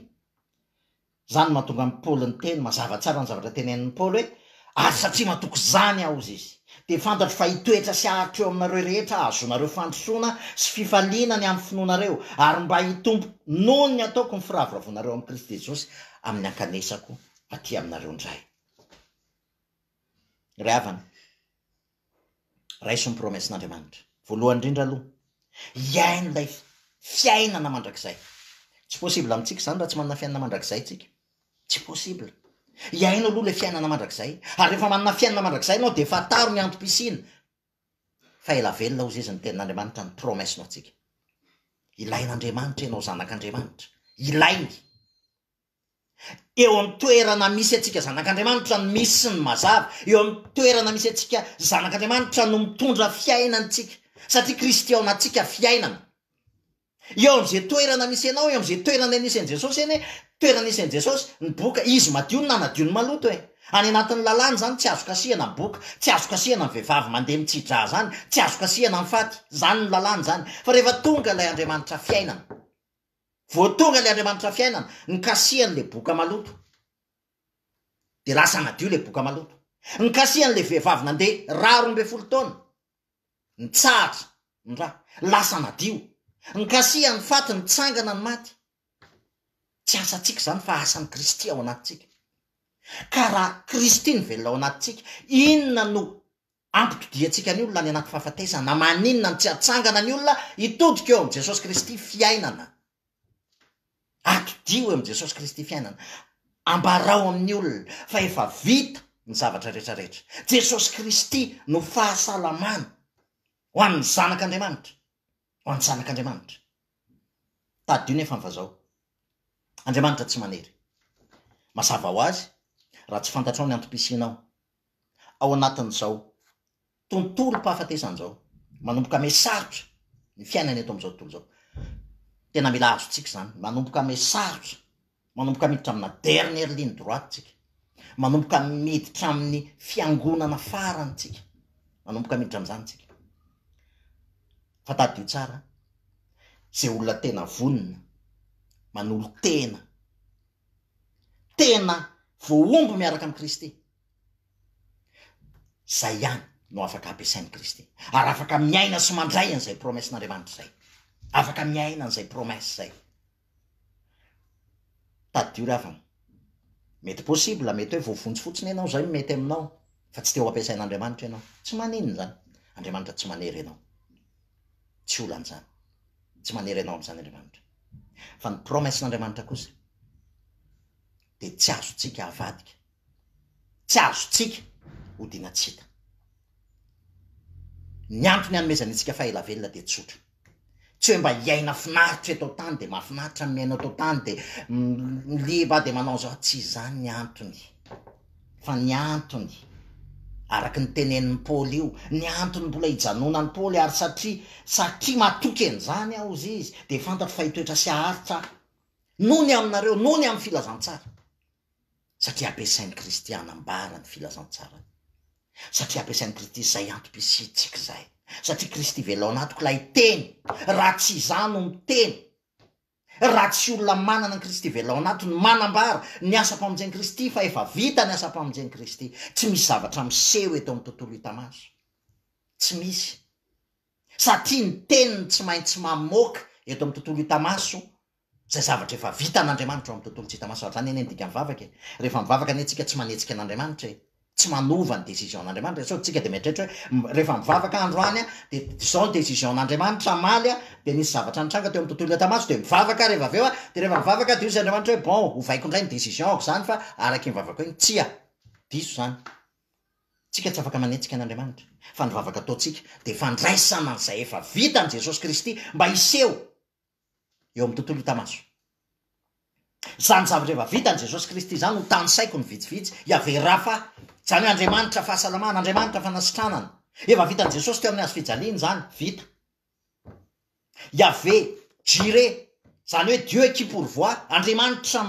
izany no mahatonga an'i Paoly niteny mazava tsara ny zavatra tenenin'i Paoly hoe, Ary satria matoky izany aho, hoy izy, dia fantatro fa hitoetra sy haharitra eo aminareo rehetra aho, hahazoanareo fandrosoana sy fifaliana ny amin'ny finoanareo, ary mba hitombo noho ny ataoko ny firavoravoanareo amin'i Kristy Jesosy amin'ny hankanesako aty aminareo indray. Ry havana. Raiso ny promesse-n'Andriamanitra. Voalohany indrindra aloha, hiaino ilay fiainana mandrakizay. Tsy possible amintsika izany raha tsy manana fiainana mandrakizay tsika. Tsy possible. Hiaino aloha ilay fiainana mandrakizay. Ary rehefa manana fiainana mandrakizay ianao dia fantaro ny antom-pisiany fa ela velona hoy izy ny tenin'Andriamanitra ny promesse-ny ho antsika. Ilain'Andriamanitra ianao zanak'Andriamanitra. Ilainy. Eo amin'ny toerana misy antsika zanak'Andriamanitra no misy ny mazava. Eo amin'ny toerana misy antsika zanak'Andriamanitra no mitondra fiainana antsika, satria Kristy ao anatintsika fiainana. Eo amin'izay toerana misy anao, eo amin'izay toerana nisy an'i Jesosy anie, toerana nisy an'i Jesosy, ny boka, izy madio no nanadio ny maloto e! Any anatin'ny lalàna izany tsy azo kasihana ny boka, tsy azo kasihana ny vehivavy mandeha mitsi-drà izany, tsy azo kasihana ny faty, izany ny lalàna izany. Fa rehefa tonga ilay Andriamanitra fiainana. Voatonga le Andriamanitra fiainana, nikasihany le boka maloto, de lasa nadio le boka maloto. Nikasihany le vehivavy nande ra roa ambin'ny folo taona, nitsahatra ny ra, lasa nadio. Nikasihany faty, nitsangana ny maty. Tsy asantsika zany fa asan'i Kristy ao anatintsika. Ka raha Kristy no velona ao anatintsika, inona no. Ampitodiantsika ny olona any anaty fahafatesana. Maninona no tsy atsangana ny olona hitodika eo amin'i Jesosy Kristy fiainana? Atodio eo amin'i Jesosy Kristy fiainana. Ambarao amin'ny olona fa efa vita ny zavatra rehetra rehetra. Jesosy Kristy no fahasalamana ho an'ny zanak'Andriamanitra. Ho an'ny zanak'Andriamanitra. Tadidio nefa ny vazaho. Andriamanitra tsy manery. Mazava ho azy, raha tsy fantatrao ny antom-pisianao. Ao anatin'izao tontolom-pahafatesana izao, manomboka ame sarotra ny fiainana eto amin'izao tontolo izao. Tena mila azontsika izany. Manomboka ame sarotra Manomboka miditra amina dernière ligne droite tsika. Manomboka miditra amin'ny fiangonana farany tsika. Manomboka miditra amin'izany tsika. Fa tadidio tsara, izay olona tena vonona, manolo tena, tena voahombo miaraka amin'i Kristy, izay ihany no afaka ampiasain'i Kristy. Ary afaka miaina sy mandray an'izay promesse-n'Andriamanitra izay. Afaka miaina an'izay promesse izay. Tadidio ravana. Mety possible, mety hoe voavonjy fotsiny ianao izay no mety aminao fa tsy te ho ampiasain'Andriamanitra ianao. Tsy maninona izany. Andriamanitra tsy manery anao. Tsy olana izany. Tsy manery anao amin'izany Andriamanitra. Fa ny promesse-n'Andriamanitra kosa dia tsy azontsika avadika. tsy azontsika hodiana tsy hita. Ny antony anomezany antsika fahaela velona dia tsotra, tsy hoe mba hiaina finaritra eto an-tany dia mahafinaritra ny miaina eto an-tany dia liba dia manao an'izao, tsy izany ny antony fa ny antony araka ny tenenin'i Paoly io, ny antony mbola hijanonan'i Paoly ary satria satria matoky an'izany aho hozy izy dia fantatro fa hitoetra sy haharitra aho noho ny aminareo, noho ny amin'ny filazantsara. satria ampiasain'ny Kristy hanambara ny filazantsarany, satria ampiasain'ny Kristy izay antom-pisiantsika izay, satria Kristy velao anatiko ilay teny, raha tsy izaho no miteny, raha tsy olona manana ny Kristy velao anaty no manambara ny asam-pamonjen'i Kristy fa efa vita ny asam-pamonjen'i Kristy, tsy misy zavatra miseho eto amin'ny tontolo hita maso, tsy misy, satria ny teniny tsy maintsy mamoaka eto amin'ny tontolo hita maso Izay zavatra efa vitan'Andriamanitra ao amin'ny tontolo tsy hita maso, ary izany anie no dikan'ny vavaka e! Rehefa mivavaka anie tsika tsy manetsika an'Andriamanitra e! Tsy manova ny décision n'Andriamanitra e! Sao tsika dia mieritreritra hoe rehefa mivavaka androany aho dia izao ny décision n'Andriamanitra hamaly aho dia nisy zavatra nitranga teo amin'ny tontolo hita maso dia mivavaka aho rehefa avy eo a! Dia rehefa mivavaka dia hoy izy Andriamanitra hoe bon, ovaiko indray ny décision-ko izany fa araka iny vavakao iny, tsia! Diso izany! Tsika tsy afaka manetsika an'Andriamanitra fa ny vavaka ataontsika dia fandraisana an'izay efa vitan'i Jesosy Kristy mba hiseho eo amin'ny tontolo hita maso. Izany zavatra efa vitan'i Jesosy Kristy izany no tanisaiko ny vitsivitsy, Yaveh Rapha, izany hoe Andriamanitra fahasalamana, Andriamanitra fanasitranana. Efa vitan'i Jesosy teo amin'ny hazo fijaliana izany, vita. Yaveh Jireh, izany hoe Dieu qui pourvoit, Andriamanitra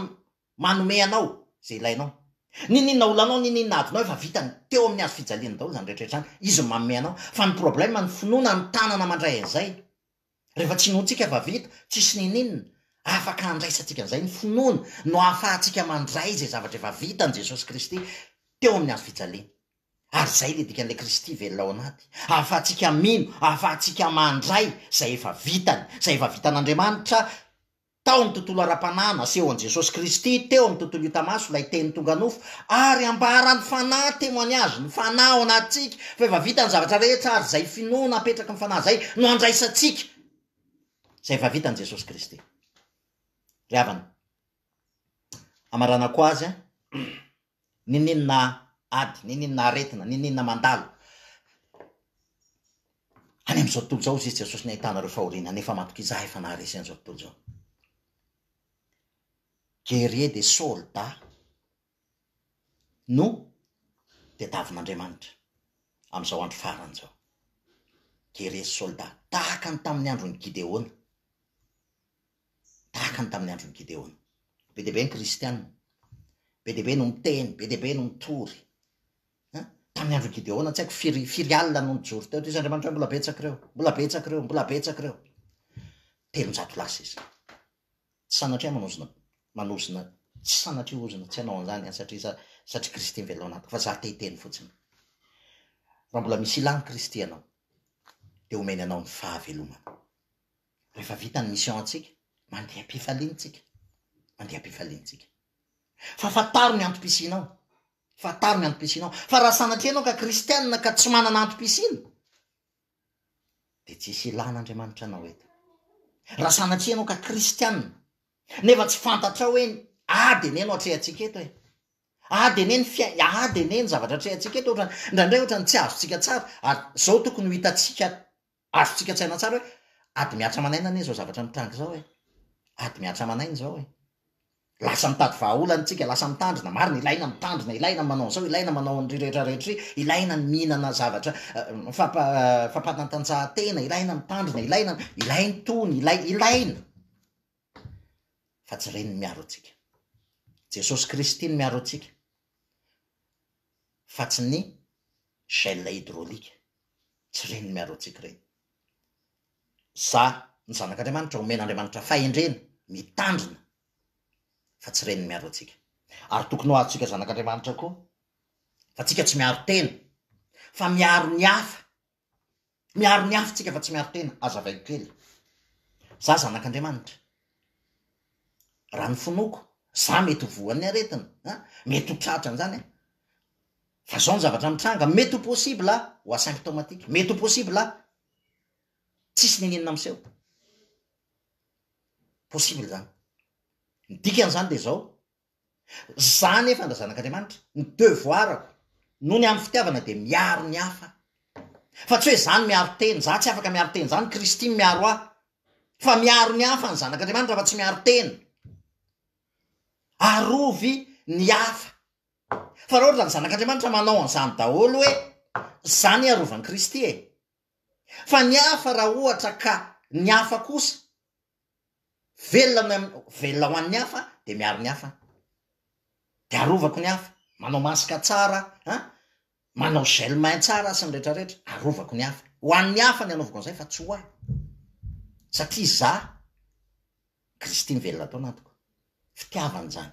manome anao izay ilainao. Nininona olanao, nininona adinao efa vitany teo amin'ny hazo fijaliana daholo izany rehetra izany, izy no manome anao. Fa ny problème ny finoana ny tanana mandray an'izay. Rehefa tsy inoantsika fa vita, tsisy niniana, afaka handraisantsika an'izay ny finoana no ahafahantsika mandray izay zavatra efa vitan'i Jesosy Kristy teo amin'ny hazo fijaliana. Ary izay ilay dikan'ilay Kristy velona ao anaty. Ahafahantsika mino, ahafahantsika mandray izay efa vitany, izay efa vitan'Andriamanitra Tao ny tontolo ara-panahy, naseho an'i Jesosy Kristy teo amin'ny tontolo hita maso ilay Teny tonga nofo, ary ambara ny Fanahy, témoignage, ny Fanahy ao anatintsika, fa efa vita ny zavatra rehetra, ary izay finoana apetraky ny Fanahy izay no andraisantsika izay efa vitan'i Jesosy Kristy. Ry havana, hamaranako azy an. Niniana ady, niniana aretina, niniana mandalo. Any amin'izao tontolo izao hoy Jesosy ny ahitana ireo fahoriana nefa matoky Izaho efa naharesy an'izao tontolo izao. Guerrier de solda no tediavin'Andriamanitra amin'izao andro farany izao. Guerrier solda, tahaka ny tamin'ny andron'i Gideona. tahaka ny tamin'ny andron'i Gideona. Be dia be ny kristiana, be dia be no miteny, be dia be no mitory. An, tamin'ny andron'i Gideona tsy haiko firy firy alina no nijoro teo, toy izy Andriamanitra hoe mbola betsaka ireo, mbola betsaka ireo, mbola betsaka ireo. Telonjato lasa izy. Tsy sanatria manozona manozona tsy sanatria ozona tsy hanao an'izany satria za satria Kristy mivelona ao anatiko fa za te hiteny fotsiny. Raha mbola misy ilàn'i Kristy ianao dia omeny anao ny fahavelomana. Rehefa vita ny mission-ntsika, mandeha am-pifaliana isika. Mandeha am-pifaliana isika. Fa fantaro ny antom-pisianao. Fantaro ny antom-pisianao. Fa raha sanatria ianao ka kristianina ka tsy manana antom-pisiana, dia tsisy ilàn'Andriamanitra anao eto. Raha sanatria ianao ka kristianina, nefa tsy fantatrao hoe ady anie no atrehantsika eto e. Ady anie ny fiain- ady anie ny zavatra atrehantsika eto, ohatrany, indraindray ohatrany tsy azontsika tsara, ary izao tokony ho hitantsika Azontsika an-tsaina tsara hoe ady mihatra aman'aina anie izao zavatra mitranga izao e! Ady mihatra aman'aina izao e! Lasa mitady vahaolana isika, lasa mitandrina, marina, ilaina ny mitandrina, ilaina ny manao an'izao, ilaina ny manao an'irỳ rehetra rehetra irỳ, ilaina ny mihinana zavatra fampa fampanatanjahantena, ilaina ny mitandrina, ilaina ny, ilaina itony, ilay, ilaina. fa tsy ireny no miaro antsika. Jesosy Kristy no miaro antsika fa tsy ny gel hydraulique, tsy ireny no miaro antsika ireny. Izaho ny zanak'Andriamanitra omen'Andriamanitra fahendrena, mitandrina fa tsy ireny no miaro antsika. Ary tokony ho azontsika zanak'Andriamanitra koa fa tsika tsy miaro tena fa miaro ny hafa. Miaro ny hafa tsika fa tsy miaro tena, azavaiko kely. Za zanak'Andriamanitra. Raha ny finoako, za mety ho voan'ny aretina, an, mety ho tratra an'izany an. Fa zao ny zavatra mitranga, mety ho possible aho ho asymptomatique, mety ho possible aho tsisy nenenina miseho. Possible zany. Ny dikan'izany dia zao, Za nefa ndra zanak'Andriamanitra, ny devoirako noho ny amin'ny fitiavana dia miaro ny hafa. Fa tsy hoe za no miaro tena, za tsy afaka miaro tena, za ny Kristy no miaro ahy. Fa miaro ny hafa ny zanak'Andriamanitra fa tsy miaro tena. Arovy ny hafa. Fa raha ohatra ny zanak'Andriamanitra manao an'izany daholo hoe za anie arovan'i Kristy e! Fa ny hafa raha ohatra ka ny hafa kosa Velona ny an'ny, velona ho an'ny hafa dia miaro ny hafa aho. Dia arovako ny hafa. Manao masque tsara an, manao gel main tsara sy ny rehetrarehetra, arovako ny hafa. Ho an'ny hafa ny anaovako an'izay fa tsy ho ahy. Satria izaho, Kristy mivelona ato anatiko. Fitiavana izany.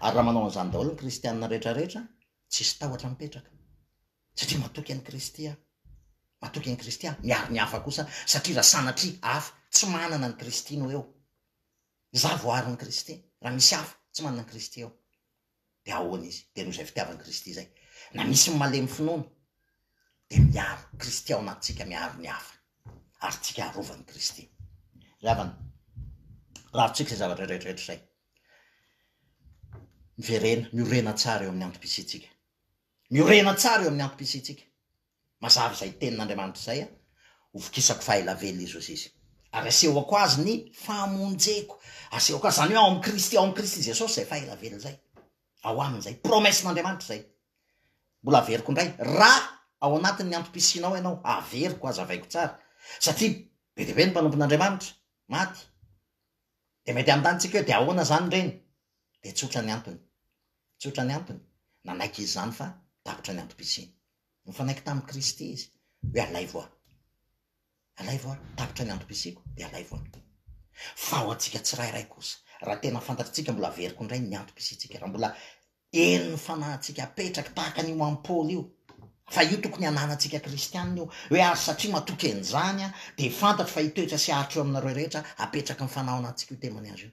Ary raha manao an'izany daholo ny kristianina rehetrarehetra, tsisy tahotra mipetraka. satria matoky an'i Kristy aho, matoky an'i Kristy aho, miaro ny hafa kosa aho, satria raha sanatria hafa tsy manana an'i Kristy no eo, izaho voaaron'i Kristy, raha misy hafa tsy manana an'i Kristy eo, dia ahoana izy? Dia noho izay fitiavan'i Kristy izay, na misy ny malemy finoana, dia miaro Kristy ao anatintsika, miaro ny hafa, ary tsika arovan'i Kristy. Ry havana, rarontsika izay zavatra rehetrarehetra izay, miverena, miorena tsara eo amin'ny antom-pisiantsika, Miorena tsara eo amin'ny antom-pisiantsika. Mazava izay tenin'Andriamanitra izay, Hovokisako fahaela velona i Josiasy, ary asehoko azy ny famonjeko. Asehoko azy, izany hoe ao amin'i Kristy, ao amin'i Kristy Jesosy izay fahaela velona izay. Ao aminy izay. Promesse-n'Andriamanitra izay. Mbola averiko indray, raha ao anatin'ny antom-pisianao ianao, averiko, azavaiko tsara, satria be dia be ny mpanompon'Andriamanitra maty, Dia mety hanontaniantsika hoe dia ahoana izany ireny? Dia tsotra ny antony. Tsotra ny antony, nanaiky izy izany fa tapitra ny antom-pisiany. Nifanaiky tamin'i Kristy izy hoe alaivo aho. Alaivo aho, tapitra ny antom-pisiako dia alaivo aho. Fa ho antsika tsirairay kosa, raha tena fantatritsika mbola averiko indray ny antom-pisiantsika, raha mbola Hery ny fanahintsika apetraky tahaka an'io amin'i Paoly io. Fa io tokony hananantsika kristianina io. Hoe ary satria matoky an'izany aho, dia fantatro fa hitoetra sy haharitra eo aminareo rehetra apetraky ny fanahy ao anatintsika io temany azy io.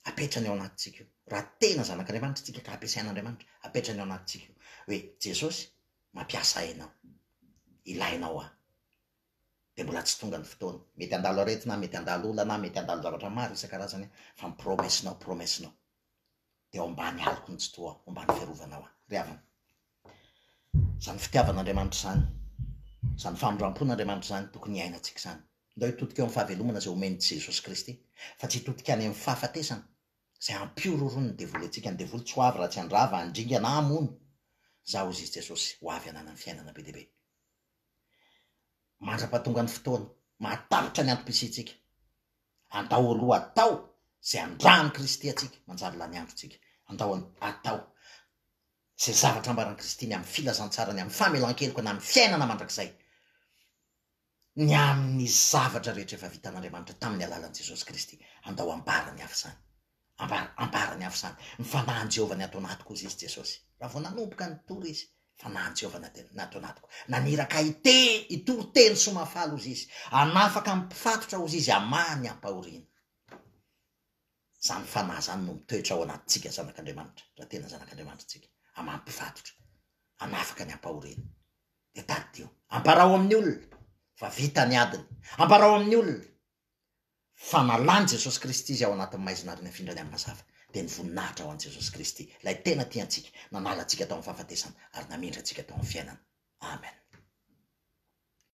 Apetrany ao anatintsika io. Raha tena zanak'Andriamanitra isika ka ampiasain'Andriamanitra, apetrany ao anatintsika io. Hoe, Jesosy, mampiasa ahy ianao. Ilainao ahy. Dia mbola tsy tonga ny fotoana. Mety handalo aretina aho, mety handalo olana aho, mety handalo zavatra maro isan-karazany aho, fa ny promesinao, promesinao. dia ao ambany aloky ny tsitoha ao, ao ambany fiarovana ao ry havana. Izany fitiavan'Andriamanitra izany, izany famindrampon'Andriamanitra izany tokony hiainantsika izany. Ndao hitodika eo amin'ny fahavelomana izay omen'i Jesosy Kristy fa tsy hitodika any amin'ny fahafatesana izay hampihorohoron'ny devoly antsika. Ny devoly tsy ho avy raha tsy handrava, handringa na hamono izaho, hoy i Jesosy, ho avy hananany fiainana be dia be. Mandra-pahatongan'ny fotoana, mahatahotra ny antom-pisiantsika. Andao aloha atao izay andrahan'i Kristy antsika manjary lany androntsika. Andao atao izay zavatra ambaran'i Kristy ny amin'ny filazantsara, ny amin'ny famelan-keloka na ny fiainana mandrakizay, ny amin'ny zavatra rehetra efa vitan'Andriamanitra tamin'ny alalan'i Jesosy Kristy. Andao ambarany avy izany. Ambara, ambarany avy izany. Ny fanahin'i Jehovah ny ato anatiko, hoy izy, Jesosy. Raha vao nanomboka nitory izy, fanahin'i Jehovah ny ato anatiko. Naniraka ahy hiteny, hitory teny soa mahafaly, hoy izy. Hanafaka ny mpifatotra, hoy izy, hamaha ny ampahoriana. Izany fanahy izany no mitoetra ao anatintsika zanak'Andriamanitra, raha tena zanak'Andriamanitra isika. Hamaha ny mpifatotra, hanafaka ny ampahoriana. Dia tadidio. Ambarao amin'ny olona fa vita ny adiny. Ambarao amin'ny olona fa nalan'i Jesosy Kristy izay ao anatin'ny maizina ary nafindra any amin'ny mazava, dia ny voninahitra ho an'i Jesosy Kristy, ilay tena tia antsika, nanala antsika tao amin'ny fahafatesana ary namindra antsika tao amin'ny fiainana. Amen.